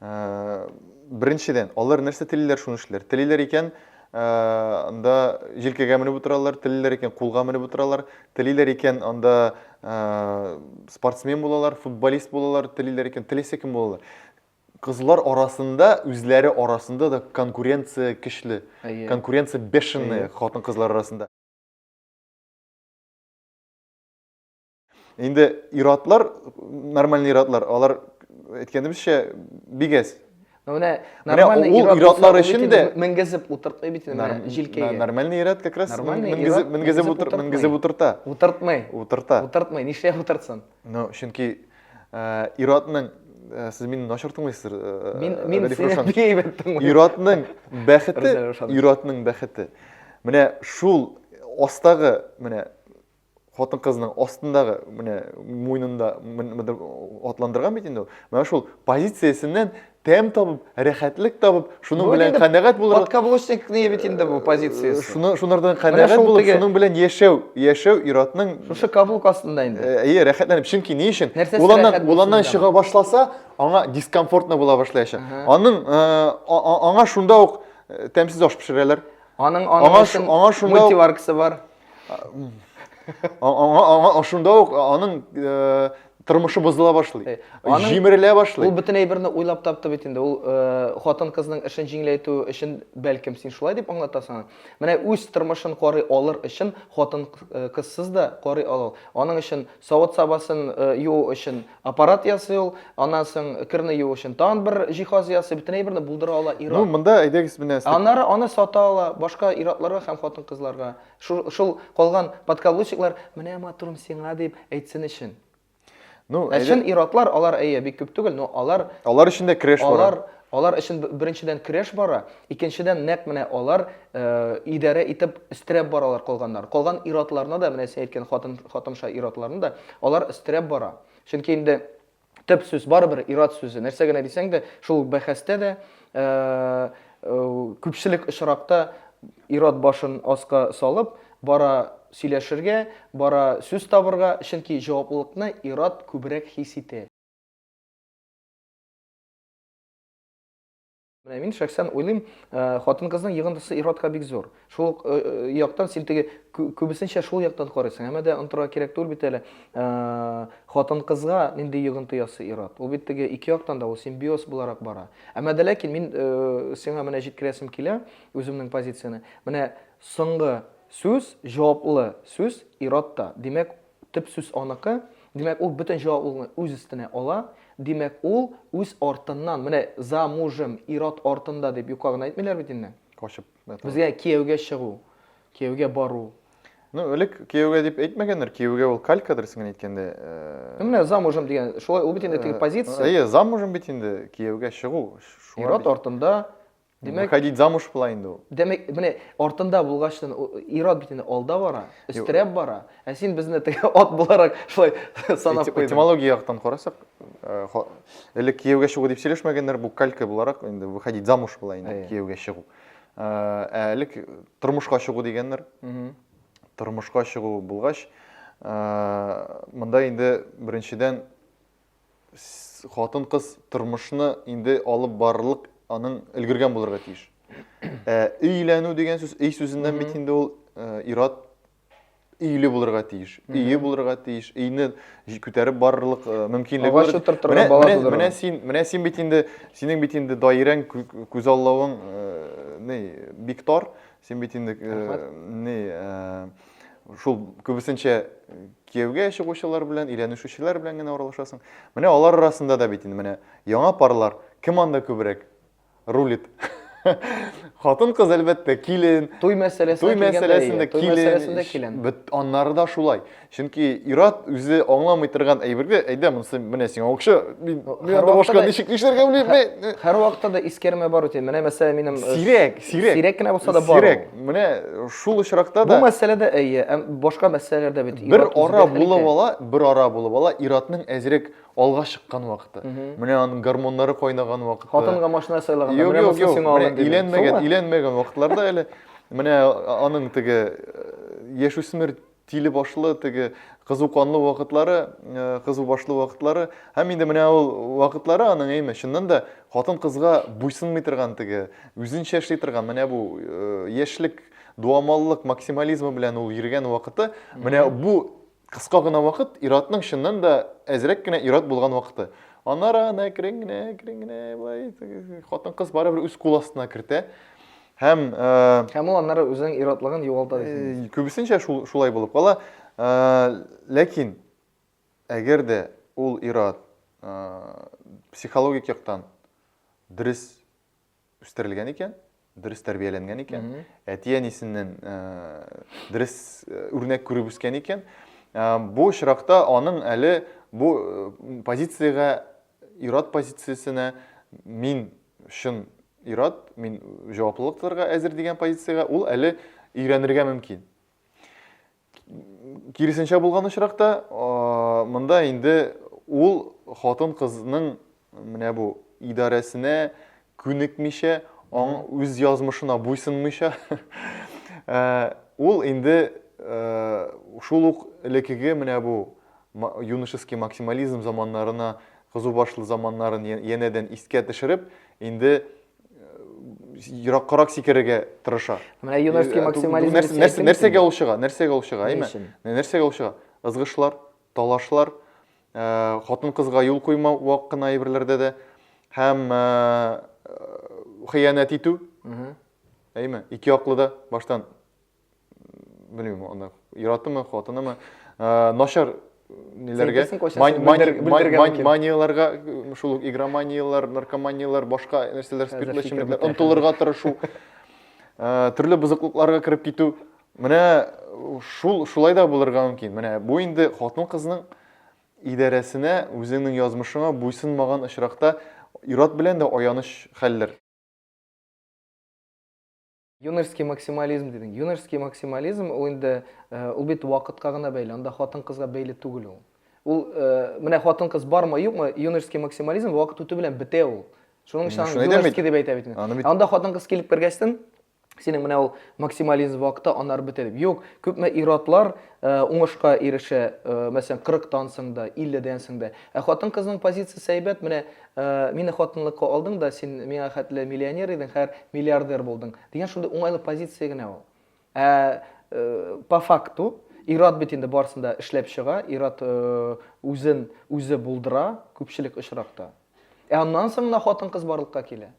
Э, беренчедән, алар нәрсә телиләр, шуны эшлиләр. Телиләр икән, э, анда җилкәгә менеп утыралар, телиләр икән, кулга менеп утыралар, телиләр икән, анда э, спортсмен булалар, футболист булалар, телиләр икән, теләсә кем булалар. Кызлар арасында, үзләре арасында да конкуренция көчле. Конкуренция бешеная хатын-кызлар арасында. Инде ир-атлар, нормальный ир-атлар, алар әйткәнебезчә, бик әз. Ну менә нормальный ир-атлар өчен дә менгезеп утыртмый бит инде менә җилкәгә. Нормальный ир-ат как раз менгезеп утырта. Утыртмый. Утырта. Утыртмый. Нишләп утыртсын? Ну, чөнки ир-атның сез мине начар тыңлыйсыздыр. Мин мин сине бик әйбәт тыңлыйм. Ир-атның бәхете, ир-атның бәхете. Менә шул астагы, менә хатын-кызның астындагы, менә муйнында атландырган бит инде ул. Менә шул позициясеннән тәм табып, рәхәтлек табып, шуның белән канәгать булырга. Подкаблучникны бит инде бу позициясе. Э, шуны шунардан канәгать булып, шуның белән яшәү, яшәү иратның Шушы каблук астында инде. Э, әйе, рәхәтләнеп. Чөнки ни өчен? Уланнан, уланнан чыга башласа, аңа дискомфортно була башлаячак. Аның э, аңа шунда ук тәмсез аш пешерәләр. Аның аның аңа шунда мультиваркасы бар. аңа шунда ук аның э, тормышы бозыла башлый э, аның җимерелә башлый ул бөтен әйберне уйлап тапты бит инде ул э, хатын кызның эшен җиңеләйтү өчен бәлкем син шулай дип аңлатасың менә үз тормышын карый алыр өчен хатын кызсыз да карый ала аның өчен савыт сабасын юу өчен Аппарат ясый ул, аннан соң керне юу өчен тагын бер җиһаз ясый, бөтен әйберне булдыра ала ир-ат. Ну, монда әйдәгез менә. Аннары аны сата ала, башка ир-атларга һәм хатын-кызларга, шул, шул калган подкаблучниклар, менә матурым сиңа дип әйтсен өчен. Ну, Ә чын ир-атлар, алар, әйе, бик күп түгел, но алар. Алар өчен дә креш бар. Алар Алар өчен беренчедән көрәш бара, икенчедән нәкъ менә алар идарә итеп өстерәп баралар калганнар. Калган ир-атларны да, менә син әйткән хатын, хатынша ир-атларны да алар өстерәп бара. Чөнки инде төп сүз барыбер ир-ат сүзе. Нәрсә генә дисәң дә, шул бәхәстә дә күпчелек очракта ир-ат башын аска салып бара сөйләшергә, бара сүз табырга, чөнки җаваплылыкны ир-ат күбрәк хис итә. Менә мин шәхсән уйлыйм, э, хатын-кызның йыгындысы иротка бик зур. Шул ук э, э, яктан син теге күбесенчә шул яктан карыйсың. Әмма дә онтырга кирәк түгел бит әле. Хатын-кызга нинди йыгынты ясы ирот. Ул бит теге ике яктан да ул симбиоз буларак бара. Әмма дә ләкин мин сиңа менә җиткерәсем килә үземнең позицияне. Менә соңгы сүз, җаваплы сүз иротта. Димәк, Төп сүз аныкы, димәк, ул бөтен җаваплылыкны үз өстенә ала, димәк, ул үз артыннан, менә за мужем, ир-ат артында дип юкка гына әйтмиләр бит инде. Качып, да, тагы. Безгә кияүгә чыгу, кияүгә бару. Ну, элек кияүгә дип әйтмәгәннәр, кияүгә ул калька дөресен әйткәндә. Ну, менә за мужем дигән, шулай, ул бит инде теге позиция. Әйе, за мужем бит инде кияүгә чыгу. Ир-ат артында Димәк, Выходить замуж була инде ул. Димәк, менә артында булгачтан ир-ат бит инде алда бара, өстерәп бара. Ә син безне теге ат буларак шулай санап куйдың. Этимология яктан карасак, э, элек кияүгә чыгу дип сөйләшмәгәннәр, бу калька буларак инде выходить замуж була инде кияүгә чыгу. Э, ә элек тормышка чыгу дигәннәр. Тормышка чыгу булгач, э, монда инде беренчедән хатын-кыз тормышны инде алып барырлык аның өлгергән булырга тиеш. Ә өйләнү дигән сүз, өй сүзеннән бит инде ул э, ират өйле булырга тиеш. Өе булырга тиеш. Өйне күтәреп барырлык э, мөмкинлеге Агач бар. утыртырга, Менә- бала менә- тудырырга. Менә син, менә син бит инде, синең бит инде даирәң, кү- күзаллавың э, не, бик тар. Син бит инде ни шул күбесенчә кияүгә чыгучылар белән, өйләнешүчеләр белән генә аралашасың. Менә алар арасында да бит инде менә яңа парлар кем анда күбрәк рулит? Хатын кыз әлбәттә килен. Туй мәсьәләсендә килгәндә, туй мәсьәләсендә килен. Бит аннары да шулай. Чөнки ир-ат үзе аңламый торган әйбергә, әйдә, монысы менә сиңа акча, мин анда башка ничек нишләргә белмим. Һәр вакытта да искәрмә бар үтә. Менә мәсәлә минем э, сирәк, сирәк. Сирәк кенә булса да бар. Сирәк. Менә шул очракта да Бу мәсьәләдә әйе, һәм башка мәсьәләләрдә бит. Бер ара булып ала, бер ара булып ала, ир-атның әзрәк алга чыккан вакыты. Менә аның гормоннары кайнаган вакыты. Хатынга машина сайлаганда, менә монысы сиңа алын дип. Өйләнмәгән, өйләнмәгән вакытларда әле менә аның теге э, яшүсмер Тиле башлы, теге кызу канлы вакытлары, кызу башлы вакытлары. Һәм инде менә ул вакытлары аның әйме, чыннан да хатын кызга буйсынмый торган теге, үзенчә эшли торган менә бу яшьлек дуамаллык максимализмы белән ул йөргән вакыты, менә бу кыска гына вакыт иратның чыннан да әзрәк кенә ират булган вакыты. Аннары аны әкрен генә, әкрен генә былай хатын-кыз барыбер үз кул астына кертә. Һәм Һәм ул аннары үзенең ир-атлыгын югалта дисең. Күбесенчә шул шулай булып кала. Ләкин әгәр дә ул ир-ат психологик яктан дөрес үстерелгән икән, дөрес тәрбияләнгән икән, әти-әнисеннән дөрес үрнәк күреп үскән икән, бу очракта аның әле бу позициягә Ир-ат позициясенә мин чын ир-ат, мин җаваплылык тотарга әзер дигән позициягә ул әле өйрәнергә мөмкин. Киресенчә булган очракта, монда инде ул хатын-кызның менә бу идарәсенә күнекмичә, аң үз язмышына буйсынмыйча, ул инде шул ук элекеге менә бу юношеский максимализм заманнарына, кызу башлы заманнарын янәдән искә төшереп, инде ераккарак сикерергә тырыша. Менә юношеский максимализм нәрсәгә ул чыга? Нәрсәгә ул чыга, әйме? Нәрсәгә ул чыга? Ызгышлар, талашлар, хатын-кызга юл куймау вак кына әйберләрдә дә һәм хыянәт итү. Әйме, ике яклы да баштан белмим, аны яратымы, хатынымы, начар ниләргә манияләргә шул ук игроманияләр, наркоманияләр, башка нәрсәләр, спиртлы эчемлекләр омтылырга тырышу, төрле бозыклыкларга кереп китү. Менә шул шулай да булырга мөмкин. Менә бу инде хатын-кызның идарәсенә, үзеңнең язмышыңа буйсынмаган очракта ир-ат белән дә аяныч хәлләр. Юношеский максимализм дидең. Юношеский максимализм ул инде ул бит вакытка гына бәйле, анда хатын-кызга бәйле түгел ул. Ул менә хатын-кыз бармы, юкмы, юношеский максимализм вакыт үтү белән бетә ул. Шуның өчен аны юношеский дип әйтә бит. Анда хатын-кыз килеп кергәчтен, Синең менә ул максимализм вакыты анар бетереп. Юк, күпме иратлар э, уңышка ирешә, э, мәсәлән, 40-тан соң да, 50-дән соң да. Ә хатын-кызның позициясе әйбәт, менә э, мине хатынлыкка алдың да, син миңа хәтле миллионер идең, хәзер миллиардер булдың. Дигән шундый уңайлы позиция генә ул. Ә э, по факту ират бит инде барсында эшләп чыга, ират э, үзен үзе булдыра күпчелек очракта. Ә аннан соң гына хатын-кыз барлыкка килә.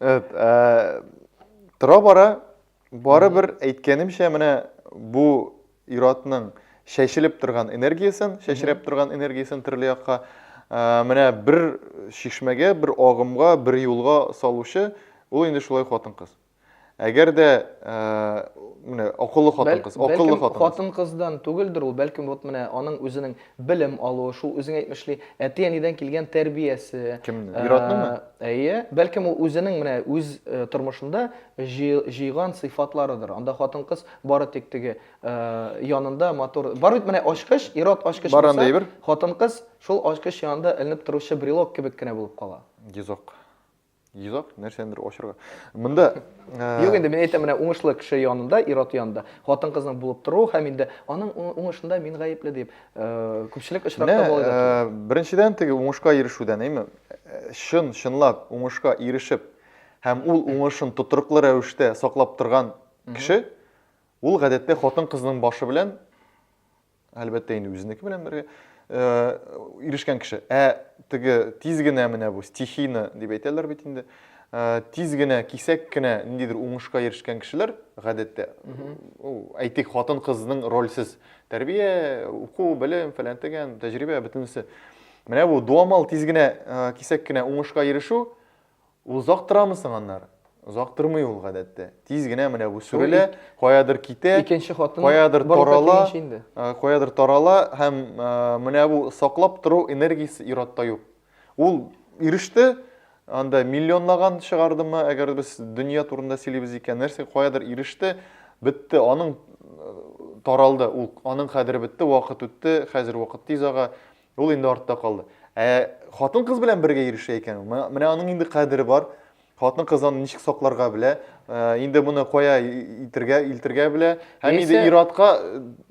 Evet, e, тора бара барыбер әйткәнемчә менә бу иратның шәшелеп торган энергиясен, шәшерәп торган энергиясен төрле якка э, менә бер шишмәгә, бер агымга, бер юлга салучы ул инде шулай хатын-кыз. Әгәр дә э, менә акыллы хатын-кыз, акыллы хатын-кыз. Хатын-кыздан түгелдер ул, бәлкем вот менә аның үзенең Белем алуы, шул үзең әйтмешли, әти-әнидән килгән тәрбиясе. Кемнең? Ир-атныңмы? Әйе. Бәлкем ул үзенең менә үз тормышында җыйган сыйфатларыдыр. Анда хатын-кыз бары тик теге янында матур. Бар бит менә ачкыч, ир-ат ачкыч булса, хатын-кыз шул ачкыч янында эленеп торучы брелок кебек кенә булып кала. Йозак. Йозак, нәрсәнедер ачырга. Монда э, Юк инде мин әйтәм менә уңышлы кеше янында, ир-ат янында хатын-кызның булып тору һәм инде аның уңышында мин гаепле дип э, күпчелек очракта була иде. Э, беренчедән теге уңышка ирешүдән, әйме? Чын, чынлап уңышка ирешеп һәм ул уңышын тотрыклы рәвештә саклап торган кеше ул гадәттә хатын-кызның башы белән Әлбәттә инде үзенеке белән бергә ирешкән кеше. Ә теге тиз генә менә бу стихийно дип әйтәләр бит инде. Тиз генә, кисәк кенә ниндидер уңышка ирешкән кешеләр, гадәттә, әйтик, хатын-кызның рольсез тәрбия, уку, белем, фәлән тегән, тәҗрибә бөтенесе. Менә бу дуамал тиз генә, кисәк кенә уңышка ирешү Озак торамы соң аннары? Озак тормый ул, гадәттә. Тиз генә менә бу сүрелә, каядыр китә, каядыр тарала, каядыр тарала һәм менә бу саклап тору энергиясе ир-атта юк. Ул иреште, анда миллионлаган чыгардымы, әгәр без дөнья турында сөйлибез икән, нәрсә каядыр иреште, бетте, аның таралды, ул аның кадере бетте, вакыт үтте, хәзер вакыт тиз ага, Ул инде артта калды. Ә хатын-кыз белән бергә йөрешә икән, менә аның инде кадере бар. Хатын-кыз аны ничек сакларга белә, э, инде моны кая илтергә, илтергә белә, һәм яисә, инде иратка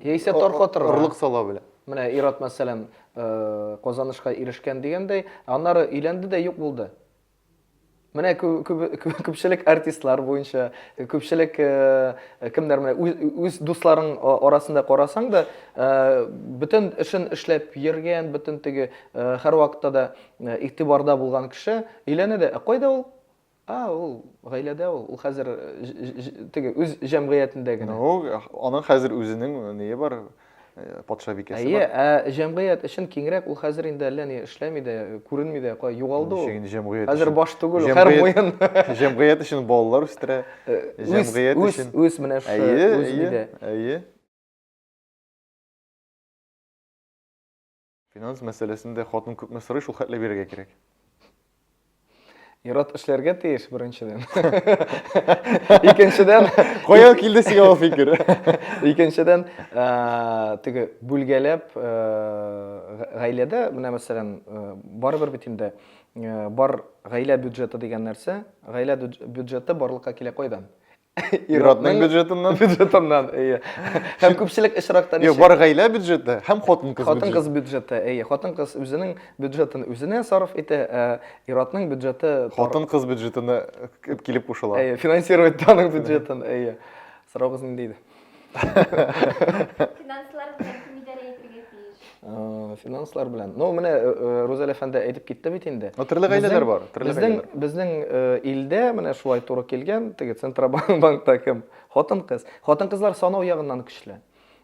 яисә таркатырга орлык сала белә. Менә ират мәсәлән, э, казанышка ирешкән дигәндәй, аннары өйләнде дә юк булды. Менә күпчелек артистлар буенча, күпчелек кемнәр менә үз дусларың арасында карасаң да, бөтен эшен эшләп йөргән, бөтен теге һәрвакытта да игътибарда булган кеше өйләнә дә, ә кайда ул? А, ул гаиләдә ул, ул хәзер теге үз җәмгыятендә генә. Ну, аның хәзер үзенең ние бар, патша бикәсе Әйе, бар. ә җәмгыять өчен киңрәк ул хәзер инде әллә ни эшләми дә, күренми дә, кая югалды ул. Ничек инде җәмгыять Хәзер өчен? баш түгел, ул, һәр Җәмгыять- муен. Җәмгыять өчен балалар үстерә. Э, Үз, Җәмгыять үз, өчен. үз менә шушы Әйе, үз әйе, нидә. әйе. Финанс мәсьәләсендә хатын күпме сорый, шул хәтле бирергә кирәк. Ират эшләргә тиеш беренчедән. Икенчедән, каян килде сиңа ул фикер? Икенчедән, теге бүлгәләп гаиләдә, менә мәсәлән, барыбер бит инде бар гаилә бюджеты дигән нәрсә, гаилә бюджеты барлыкка килә кайдан? Иратның бюджетыннан. Бюджетыннан, әйе. Һәм күпчелек очракта ничек? Бар гаилә бюджеты һәм хатын-кыз бюджеты. Хатын-кыз бюджеты, әйе. Хатын-кыз үзенең бюджетын үзенә сарыф итә, ә иратның бюджеты... Хатын-кыз бюджетына килеп кушыла. Әйе, финансировать аның бюджетын, әйе. Сораугыз нинди иде? Финанслар белән кем идарә итәргә тиеш? Э, финанслар белән. Ну, менә э, э, Рузәлә әфәнде әйтеп китте бит инде. Ну, төрле гаиләләр бар, төрле Безнең гаиләләр. безнең э, илдә менә шулай туры килгән, теге Центробанк банкта кем? Хатын-кыз. Хатын-кызлар санау ягыннан көчле.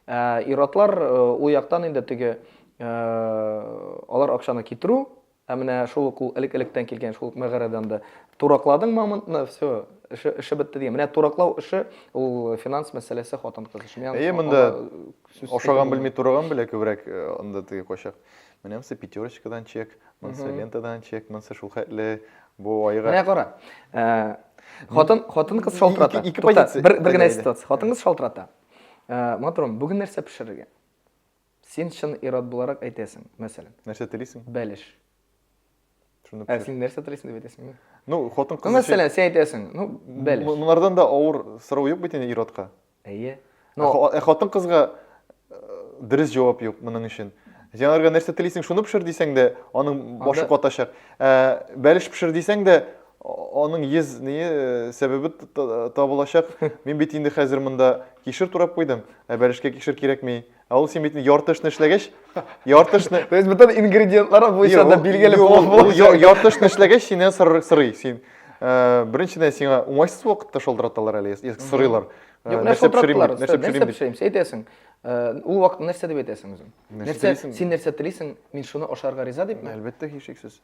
Ә ир-атлар э, ул яктан инде теге э, алар акчаны китерү, Ә менә шул ук ул элек-электән килгән шул ук мәгарәдән дә. Туракладың мамонтны, все, эше, эше бетте дигән. Менә тураклау эше, ул финанс мәсьәләсе хатын-кыз өчен. Миңа Әйе, монда ашаган белми тураган белә күбрәк э, анда теге качак. Менә монысы пятерочкадан чек, монысы лентадан чек, монысы шул хәтле бу айга. Менә кара. Э, хатын хатын кыз шалтырата. Ике позиция. Бер генә ситуация. Хатын кыз шалтырата. Э, Моторым, бүген нәрсә пешерергә? Син чын ир-ат буларак әйтәсең, мәсәлән. Нәрсә телисең? Бәлеш. Шуны Ә син нәрсә телисең дип әйтәсең инде. Ну, хатын кыз. Ну, мәсәлән, син әйтәсең, ну, бәлеш. Монардан да авыр сорау юк бит инде ир-атка. Әйе. Но ә хатын кызга дөрес җавап юк моның өчен. Син нәрсә телисең, шуны пешер дисәң дә, аның башы катачак. Ә бәлеш пешер дисәң дә, Аның йөз ние сәбәбе табылачак. Мин бит инде хәзер монда кишер турап куйдым, ә бәлешкә кишер кирәкми. Ә ул син бит ярты эшне эшләгәч, ярты эшне... То есть бөтен ингредиентлары буенча да билгеле булып булачак. Ярты эшне эшләгәч, синнән сорый. Син беренчедән сиңа уңайсыз вакытта шылдыраталар әле, сорыйлар. Нәрсә пешерим? Нәрсә пешерим? Син әйтәсең. Ул вакытта нәрсә дип әйтәсең үзең? Нәрсә син нәрсә телисең? Мин шуны ашарга риза дипме? Әлбәттә, һичшиксез.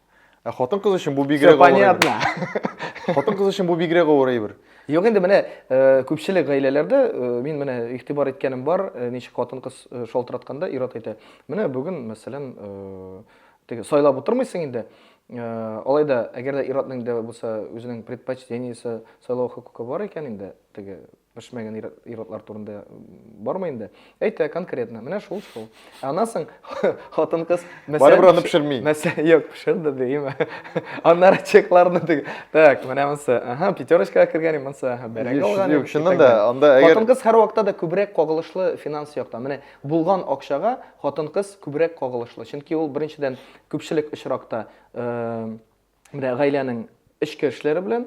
Ә хатын-кыз өчен бу бигрәк авыр әйбер. Понятно. Хатын-кыз өчен бу бигрәк авыр әйбер. Юк инде менә э, күпчелек гаиләләрдә э, мин менә игътибар иткәнем бар, э, ничек хатын-кыз шалтыратканда ир-ат әйтә. Менә бүген, мәсәлән, теге сайлап утырмыйсың инде. Алай да, әгәр дә ир-атның дә булса, үзенең предпочтениесе, сайлау хокукы бар икән инде, теге пешмәгән ир-атлар турында бармый инде. Әйтә конкретно, менә шул шул. Ә аннан соң хатын-кыз мәсәлән Барыбер аны пешерми. Мәсәлән, юк, пешерде дигән. Аннары чекларны диге. Так, менә монсы. Аһа, пятерочкага кергән монсы. Аһа, бәрәк алган. Юк, чыннан да, анда әгәр Хатын-кыз һәр вакытта да күбрәк кагылышлы финанс яктан. Менә булган акчага хатын-кыз күбрәк кагылышлы. Чөнки ул беренчедән күпчелек очракта Менә гаиләнең эчке эшләре белән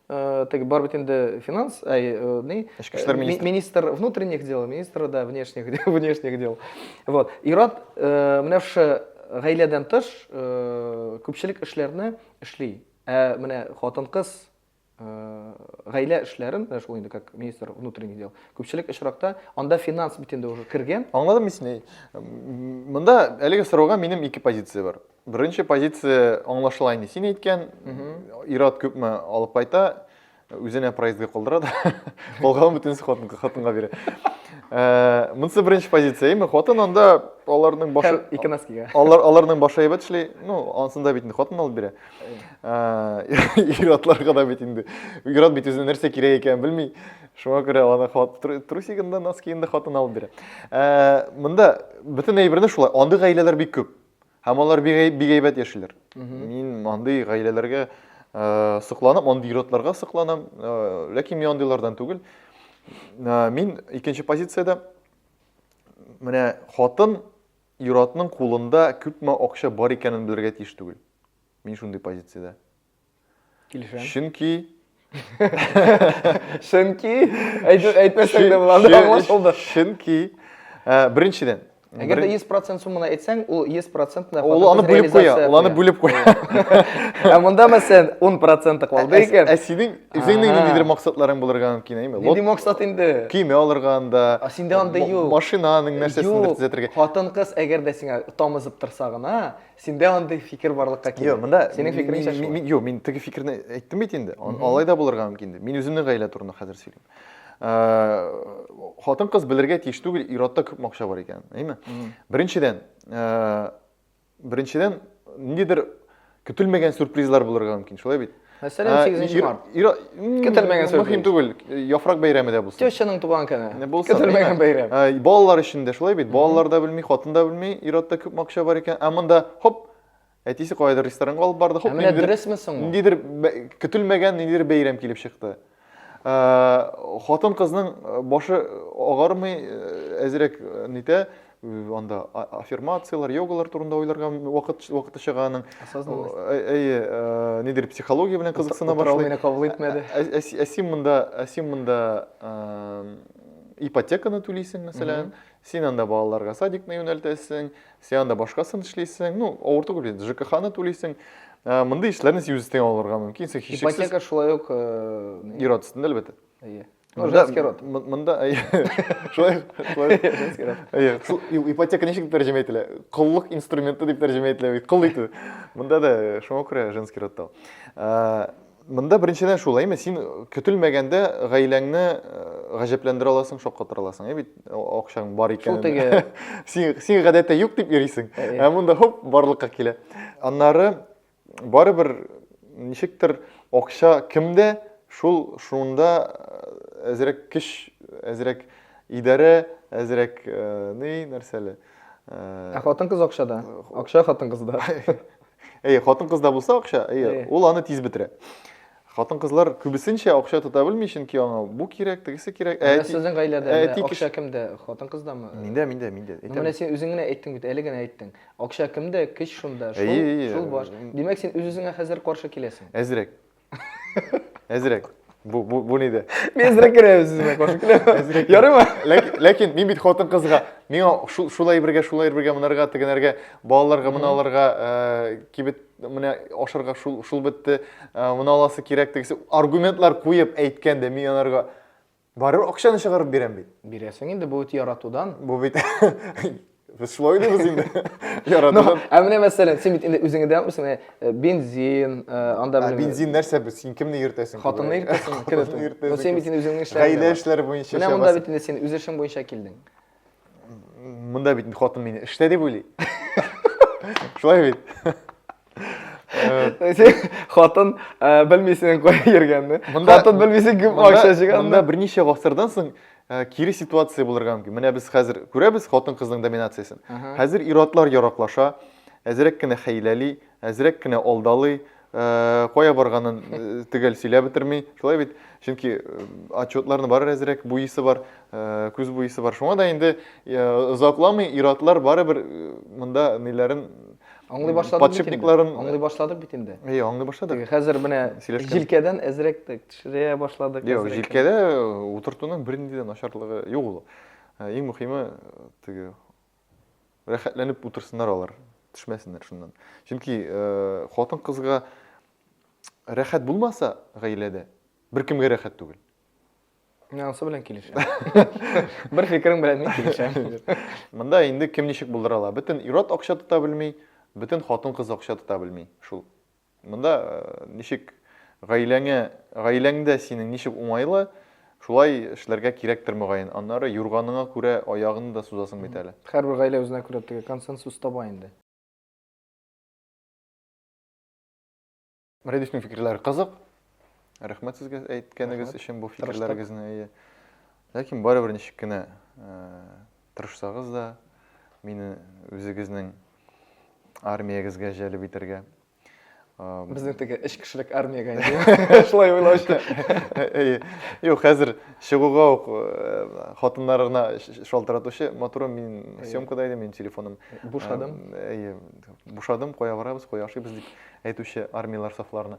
э, теге бар бит инде финанс, әй, э, ни? Эчке эшләр Э, ми- министры. министр внутренних дел, министр да внешних дел, внешних дел. Вот. Ират э, менә шушы гаиләдән тыш э, күпчелек эшләрне эшли. Ә менә хатын-кыз гаилә эшләрен, менә шул инде как министр внутренних дел, күпчелек очракта анда финанс бит инде уже кергән. Аңладым мин сине. Монда әлеге сорауга минем ике позиция бар. Беренче позиция аңлашыла инде. Син әйткән, ир-ат күпме алып кайта, үзенә проездга калдыра да, калганын бөтенесе хатынга, хатынга бирә. Э, Монысы беренче позиция, яме хатын анда аларның башы... Икенаскига. Алар, аларның башы әйбәт эшли, ну, ансында бит инде хатын алып бирә. Ир-атларга да бит инде. Ир-ат бит үзенә нәрсә кирәк икәнен белми. Шуңа күрә аны трусигын да, носкигын да хатын алып бирә. Монда бөтен әйберне шулай. Андый гаиләләр бик күп. Һәм алар бик әйбәт яшиләр. Мин андый гаиләләргә сокланам, андый ир-атларга сокланам. Ләкин мин андыйлардан түгел. Мин икенче позициядә. Менә хатын Ир-атның кулында күпме акча бар икәнен белергә тиеш түгел. Мин шундый позициядә. Килешәм. Чөнки Чөнки әйтү әйтмәсәң дә була, аңлашылды. Чөнки э, беренчедән, Әгәр дә 100% сумманы әйтсәң, ул 100% да Ул аны бүлеп куя, ул аны бүлеп куя. Ә монда мәсәлән 10% калды икән. Ә синең Э, Синең Ага. ниндидер максатларың булырга мөмкин, әйме? Нинди максат инде? Көймә алырга анда. А синдә анда ма- юк. Машинаның нәрсәсендер Юк, төзәтергә. Хатын кыз әгәр дә сиңа тамызып торса гына, синдә андый фикер барлыкка килә. Юк, монда Синең мин- фикереңчә мин- шулай. мин- Юк, мин теге фикерне әйттем бит инде. Ан- Алай да булырга мөмкин дип. Мин үземнең гаилә турында хәзер сөйлим. Хатын кыз белергә тиеш түгел, иратта күп макча бар икән, әйме? Беренчедән, э, Беренчедән, ниндидер көтелмәгән сюрпризлар булырга мөмкин, шулай бит? Мәсәлән, 8 март. Көтелмәгән сюрприз. Мөһим түгел, яфрак бәйрәме дә булсын. Тещаның туган көне. Көтелмәгән бәйрәм. Балалар өчен дә шулай бит. Балалар да белми, хатын да белми, ир-атта күп акча бар икән. Ә монда хоп, әтисе кайдыр ресторанга алып барды, хоп, ниндидер. Ә менә дөресме соң? Ниндидер көтелмәгән, ниндидер бәйрәм килеп чыкты. Хатын кызның башы агармый, әзрәк нитә, анда аффирмацияләр, йогалар турында уйларга вакыт вакыты чыга аның. Әйе, нидер психология белән кызыксына башлый. Мине кабул итмәде. Ә син монда, ә син монда ипотеканы түлисең, мәсәлән, син анда балаларга садикны юнәлтәсең, Сен анда башкасын эшлисең, ну, авыр түгел инде, ЖКХ-ны түлисең. Ә, Мондый эшләрне син үз өстеңә алырга мөмкин, син һичшиксез Ипотека шулай ук... э, не- ир-ат өстендә, әлбәттә. Әйе. Ну, Монда- женский род. м- Монда, әйе, шулай, шулай. Женский род. Әйе, шул и- ипотека ничек тәрҗемә ителә? Коллык инструменты дип тәрҗемә ителә бит, кол итү. Монда да э, шуңа күрә женский род та. ул. Ә, Монда беренчедән шулай, әйме, син көтелмәгәндә гаиләңне гаҗәпләндерә аласың, шаккатыра аласың, бит акчаң бар икән. Шул теге. Син син гадәттә юк дип йөрисең, ә монда хоп барлыкка килә. Аннары барыбер ничектер акча кемдә, шул шунда әзрәк көч, әзрәк идарә, әзрәк ни нәрсәле. Ә хатын-кыз акчада. Акча хатын-кызда. Әйе, хатын-кызда булса акча, әйе, ул аны тиз бетерә. Хатын-кызлар күбесенчә акча тота белми, чөнки аңа бу кирәк, тегесе кирәк. Ә әти... сезнең гаиләдә ә әти акча кемдә? Хатын-кыздамы? Миндә, миндә, миндә. Ну, менә син үзең генә әйттең бит, әле генә әйттең. Акча кемдә, көч шунда, шул, шул баш. Димәк, син үз-үзеңә хәзер каршы киләсең. Әзрәк. Әзрәк. Бу бу бу нидә? Мин әзрәк керәм сезгә каршы киләм. Әзрәк. Ярыймы? Ләкин, ләкин мин бит хатын кызга, миңа шул шулай бергә, шулай бергә монарга, тегенәргә, балаларга, мына аларга, э, кибет менә ашарга шул шул бетте, э, моны аласы кирәк тегесе аргументлар куеп әйткәндә мин анарга Барыбер акчаны чыгарып бирәм бит. Бирәсең инде, бу бит яратудан. Бу бит Без шулай уйлыйбыз инде. Яратудан. Ә менә мәсәлән, син бит инде үзеңә дә үсең, э, бензин, э, анда белән. Бензин нәрсә бу? Син кемне йөртәсең? Хатынны йөртәсең, кемне йөртәсең? Ну син бит инде үзеңнең эшләрең. Гаилә эшләре буенча. Менә монда бит инде син үз эшең буенча килдең. мында бит хатын мени эштә дип уйлый шулай бит хатын белмисең кая йөргәнне хатын белмисең кем акча җыйганны монда берничә гасырдан соң кире ситуация булырга мөмкин менә без хәзер күрәбез хатын кызның доминациясен хәзер ир-атлар яраклаша әзрәк кенә хәйләли әзрәк кенә алдалый Э, кая барганын э, төгәл сөйләп бетерми шулай бит чөнки э, отчетларны барыр әзрәк буисы бар күз буисы бар шуңа да инде озакламый ир-атлар барыбер монда ниләрен аңлый башладык подшипникларын аңлый башладык бит инде әйе аңлый башладык хәзер менә җилкәдән әзрәк төшерә башладык юк җилкәдә утыртуның бернинди дә начарлыгы юк ул иң мөһиме теге Рәхәтләнеп утырсыннар алар, төшмәсеннәр шуннан. Чөнки хатын-кызга рәхәт булмаса гаиләдә, беркемгә рәхәт түгел. Мин анысы белән килешәм. Бер фикерең белән мин килешәм. Монда инде кем ничек булдыра ала. Бөтен ир-ат акча тота белми, бөтен хатын-кыз акча тота белми. Шул Монда ничек гаиләңә, гаиләңдә синең ничек уңайлы, шулай эшләргә кирәктер мөгаен. Аннары юрганыңа күрә аягыңны да сузасың бит әле. Һәрбер гаилә үзенә күрә теге консенсус таба инде. Рәдифнең фикерләре кызык. Рәхмәт сезгә әйткәнегез өчен бу фикерләрегезне. Ләкин барыбер ничек кенә тырышсагыз да, мине үзегезнең армиягезгә җәлеп итәргә. Безнең теге эш кешелек армиягә инде. Шулай уйлаучы. Әйе. Юк, хәзер чыгуга ук хатыннарына шалтыратучы, матурым, мин съемкада идем, мин телефоным. Бушадым. Әйе. Бушадым, кая барабыз, кая ашыйбыз дип әйтүче армияләр сафларына.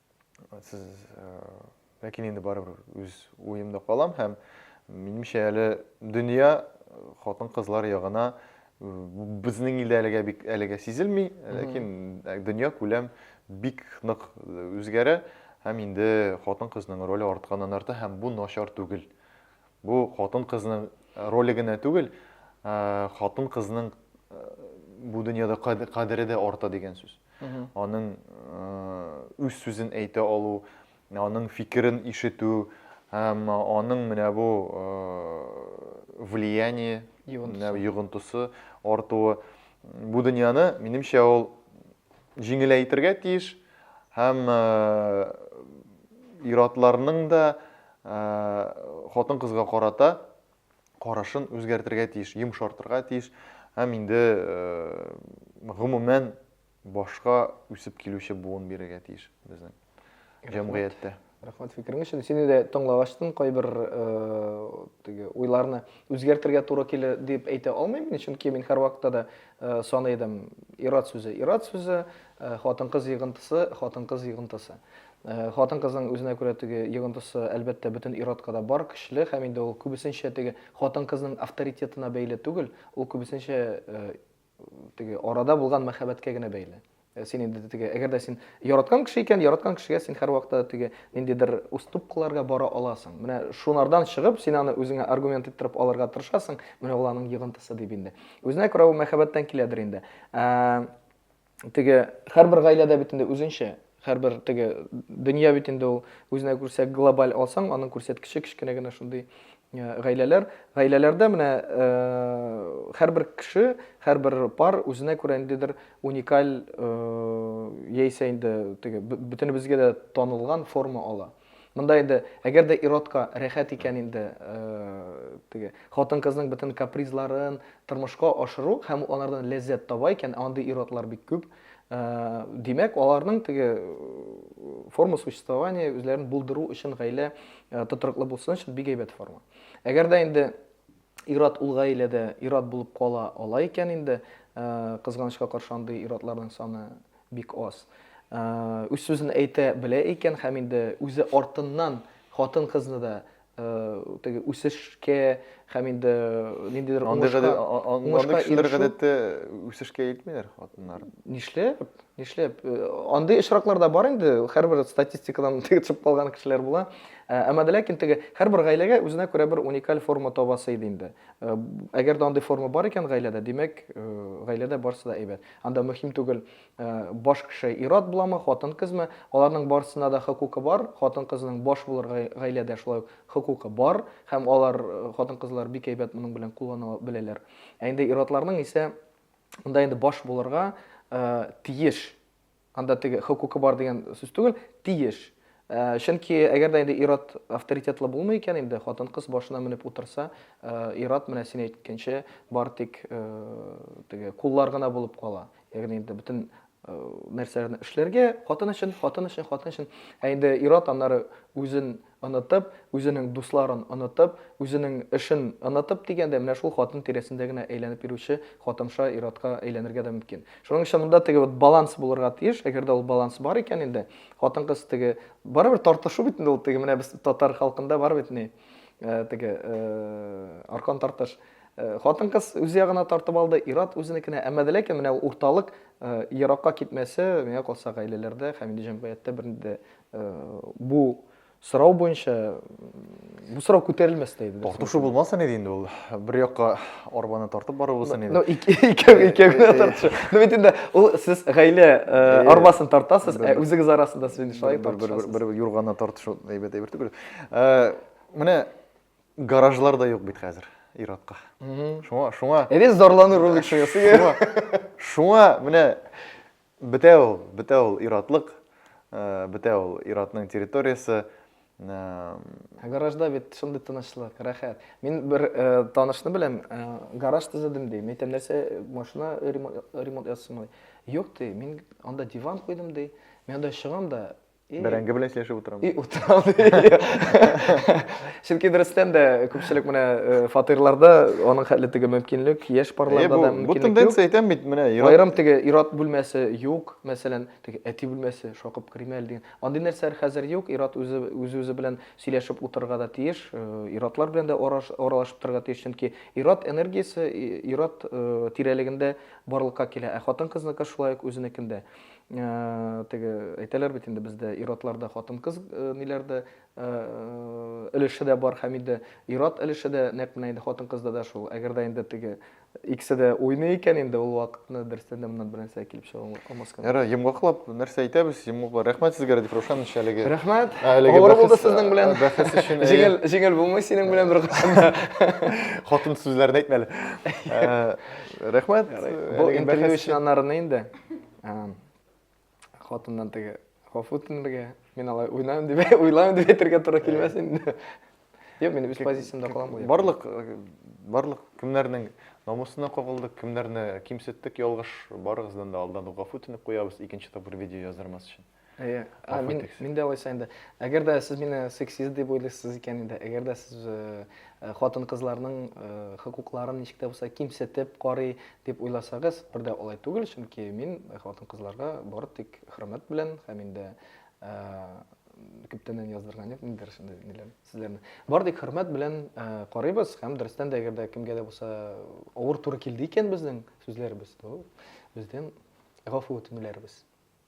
Сез, э, ләкин инде барыбер үз уемда калам һәм минемчә әле дөнья э, хатын-кызлар ягына э, безнең илдә әлегә бик әлегә сизелми, ләкин э, дөнья күләм бик нык э, үзгәрә һәм инде хатын-кызның роле артканнан арта һәм бу начар түгел. Бу хатын-кызның роле генә түгел, хатын-кызның бу дөньяда кадере дә арта дигән сүз. Аның үз сүзен әйтә алу, аның фикерен ишетү, һәм аның менә бу влияние, йогынтысы артуы бу дөньяны, минемчә, ул җиңеләйтергә тиеш һәм ир-атларның да хатын-кызга карата карашын үзгәртергә тиеш, йомшартырга тиеш һәм инде гомумән башка үсеп килүче буын бирергә тиеш безнең җәмгыятьтә. Рәхмәт фикерең өчен. Сине дә тыңлагачтын кайбер теге уйларны үзгәртергә туры килер дип әйтә алмыйм мин, чөнки мин һәрвакытта да саный идем, ират сүзе, ират сүзе, хатын-кыз йыгынтысы, хатын-кыз йыгынтысы. Хатын-кызның үзенә күрә теге йогынтысы, әлбәттә, бөтен ир-атка да бар, көчле һәм инде ул күбесенчә теге хатын-кызның авторитетына бәйле түгел, ул күбесенчә теге арада булган мәхәббәткә генә бәйле. Син инде теге, әгәр дә син яраткан кеше икән, яраткан кешегә син һәрвакытта теге ниндидер уступкаларга бара аласың. Менә шунардан чыгып, син аны үзеңә аргумент иттереп алырга тырышасың, менә ул аның йогынтысы дип инде. Үзенә күрә ул мәхәббәттән киләдер инде. теге һәрбер гаиләдә бит инде үзенчә, һәрбер теге дөнья бит инде ул үзенә күрсә глобаль алсаң, аның күрсәткече кечкенә генә шундый гаиләләр. Гаиләләрдә менә һәрбер кеше, һәрбер пар үзенә күрә ниндидер уникаль яисә инде теге бөтенебезгә дә танылган форма ала. Монда инде, әгәр дә иротка рәхәт икән инде, теге хатын-кызның бөтен капризларын тормышка ашыру һәм алардан ләззәт таба икән, андый иротлар бик күп. Димәк, аларның теге форма существования үзләрен булдыру өчен гаилә тотрыклы булсын өчен бик әйбәт форма. Әгәр дә инде ират ул гаиләдә ират булып кала ала икән инде, кызганычка каршы андый иратларның саны Бик аз. Үз сүзен әйтә белә икән һәм инде үзе артыннан хатын-кызны да теге үсешкә һәм инде ниндидер уңышка уңышка кешеләр гадәттә үсешкә илтмиләр хатыннар. Нишләп? Нишләп? Андый очраклар да бар инде, һәрбер статистикадан теге төшеп калган кешеләр була. Әмма дә ләкин теге һәрбер гаиләгә үзенә күрә бер уникаль форма табасы иде инде. Әгәр дә андый форма бар икән гаиләдә, димәк, гаиләдә барысы да әйбәт. Анда мөһим түгел, баш кеше ир-ат буламы, хатын-кызмы, аларның барысына да хокукы бар, хатын-кызның баш булырга гаиләдә шулай ук хокукы бар, һәм алар, хатын-кызлар бик әйбәт моның белән куллана беләләр. Ә инде ир-атларның исә монда инде баш булырга тиеш Анда теге хокукы бар дигән сүз түгел, тиеш. Э, чөнки әгәр дә инде ир-ат авторитетлы булмый икән инде, хатын-кыз башына менеп утырса, э, ир-ат менә син әйткәнчә бар тик э, теге куллар гына булып кала. Ягъни инде бөтен нәрсәләрне эшләргә, хатын өчен, хатын өчен, хатын өчен. Ә инде ир-ат аннары үзен Онытып, үзенең дусларын онытып, үзенең эшен онытып дигәндәй, менә шул хатын тирәсендә генә әйләнеп йөрүче хатынша ир-атка әйләнергә дә мөмкин. Шуның өчен монда теге вот баланс булырга тиеш, әгәр дә ул баланс бар икән инде, хатын-кыз теге, барыбер тартышу бит инде ул, теге менә без татар халкында бар бит ни, теге, аркан тартыш. Хатын-кыз үз ягына тартып алды, ир-ат үзенекенә, әмма дә ләкин менә ул урталык еракка китмәсе, миңа калса, гаиләләрдә һәм инде җәмгыятьтә бернинди дә Бу сорау буенча бу сорау күтәрелмәс тә иде. Тартышу булмаса иде инде ул. Бер якка арбаны тартып бару булса иде. Ну, икәү икәү генә тартышу. Ну бит инде ул сез гаилә арбасын тартасыз, ә үзегез арасында сез шулай тартышасыз. Бер бер юрганны тартышу әйбәт әйбер түгел. Менә гаражлар да юк бит хәзер иратка. Шуңа шуңа. Әбез зарлану ролик шуңа. Шуңа менә Бетә ул, бетә ул ир-атлык, бетә ул ир-атның территориясе. Ә гаражда бит шундый тынычлык, рәхәт. Мин бер танышны беләм, гараж төзедем ди. Мин әйтәм, нәрсә, машина ремонт ясыйсыңмы? Юк ди, мин анда диван куйдым ди. Мин анда чыгам да, И... Бәрәңге белән сөйләшеп утырам. И утырам. Чөнки дөрестән дә күпчелек менә э, фатирларда аның хәтле теге мөмкинлек, яшь парларда да мөмкинлек. Бу тенденция әйтәм бит менә. Аерым теге ират бүлмәсе юк, мәсәлән, теге әти бүлмәсе шакып керим әле дигән. Андый нәрсәләр хәзер юк, ират үзе үзе белән сөйләшеп утырырга да тиеш, э, иратлар белән дә аралашып торырга тиеш, чөнки ират энергиясе ират э, тирәлегендә барлыкка килә. Ә хатын-кызныкы шулай ук үзенекендә. теге әйтәләр бит инде бездә ир-атларда хатын-кыз ниләрдә өлеше дә бар һәм инде ир-ат өлеше дә нәкъ менә инде хатын-кызда да шул. Әгәр дә инде теге икесе дә уйный икән инде ул вакытны дөрестән дә моннан бернәрсә килеп чыга алмас кына. Ярар, йомгаклап нәрсә әйтәбез? Йомгаклар. Рәхмәт сезгә, Радиф Рушанович, әлеге. Рәхмәт. Авыр булды сезнең белән. Бәхәс өчен. Җиңел, җиңел булмый синең белән бер кашында. Хатын сүзләрен әйтмәле. Рәхмәт. Бу интервью өчен анарны инде. Хатыннан теге гафу үтенергә, мин алай уйлайм дип, уйлайм дип әйтергә туры килмәс инде. Юк, мин үз позициямдә калам бу. Барлык барлык кемнәрнең намусына кагылдык, кемнәрне кимсеттек, ялгыш барыгыздан да алдан гафу үтенеп куябыз, икенче тапкыр видео яздырмас өчен. Әйе. Ә, мин, мин дә алайса инде. Әгәр дә сез мине сексист дип уйлыйсыз икән инде, әгәр дә сез э, э, хатын-кызларның э, хокукларын ничек тә булса кимсетеп карый дип уйласагыз, бер дә алай түгел, чөнки мин хатын-кызларга бары тик хөрмәт белән һәм инде күптәннән яздырган идем инде шундый ниләр сүзләрне. Бар тик хөрмәт белән карыйбыз һәм дөрестән дә әгәр дә кемгә дә булса авыр туры килде икән безнең сүзләребез, то бездән гафу үтенүләребез.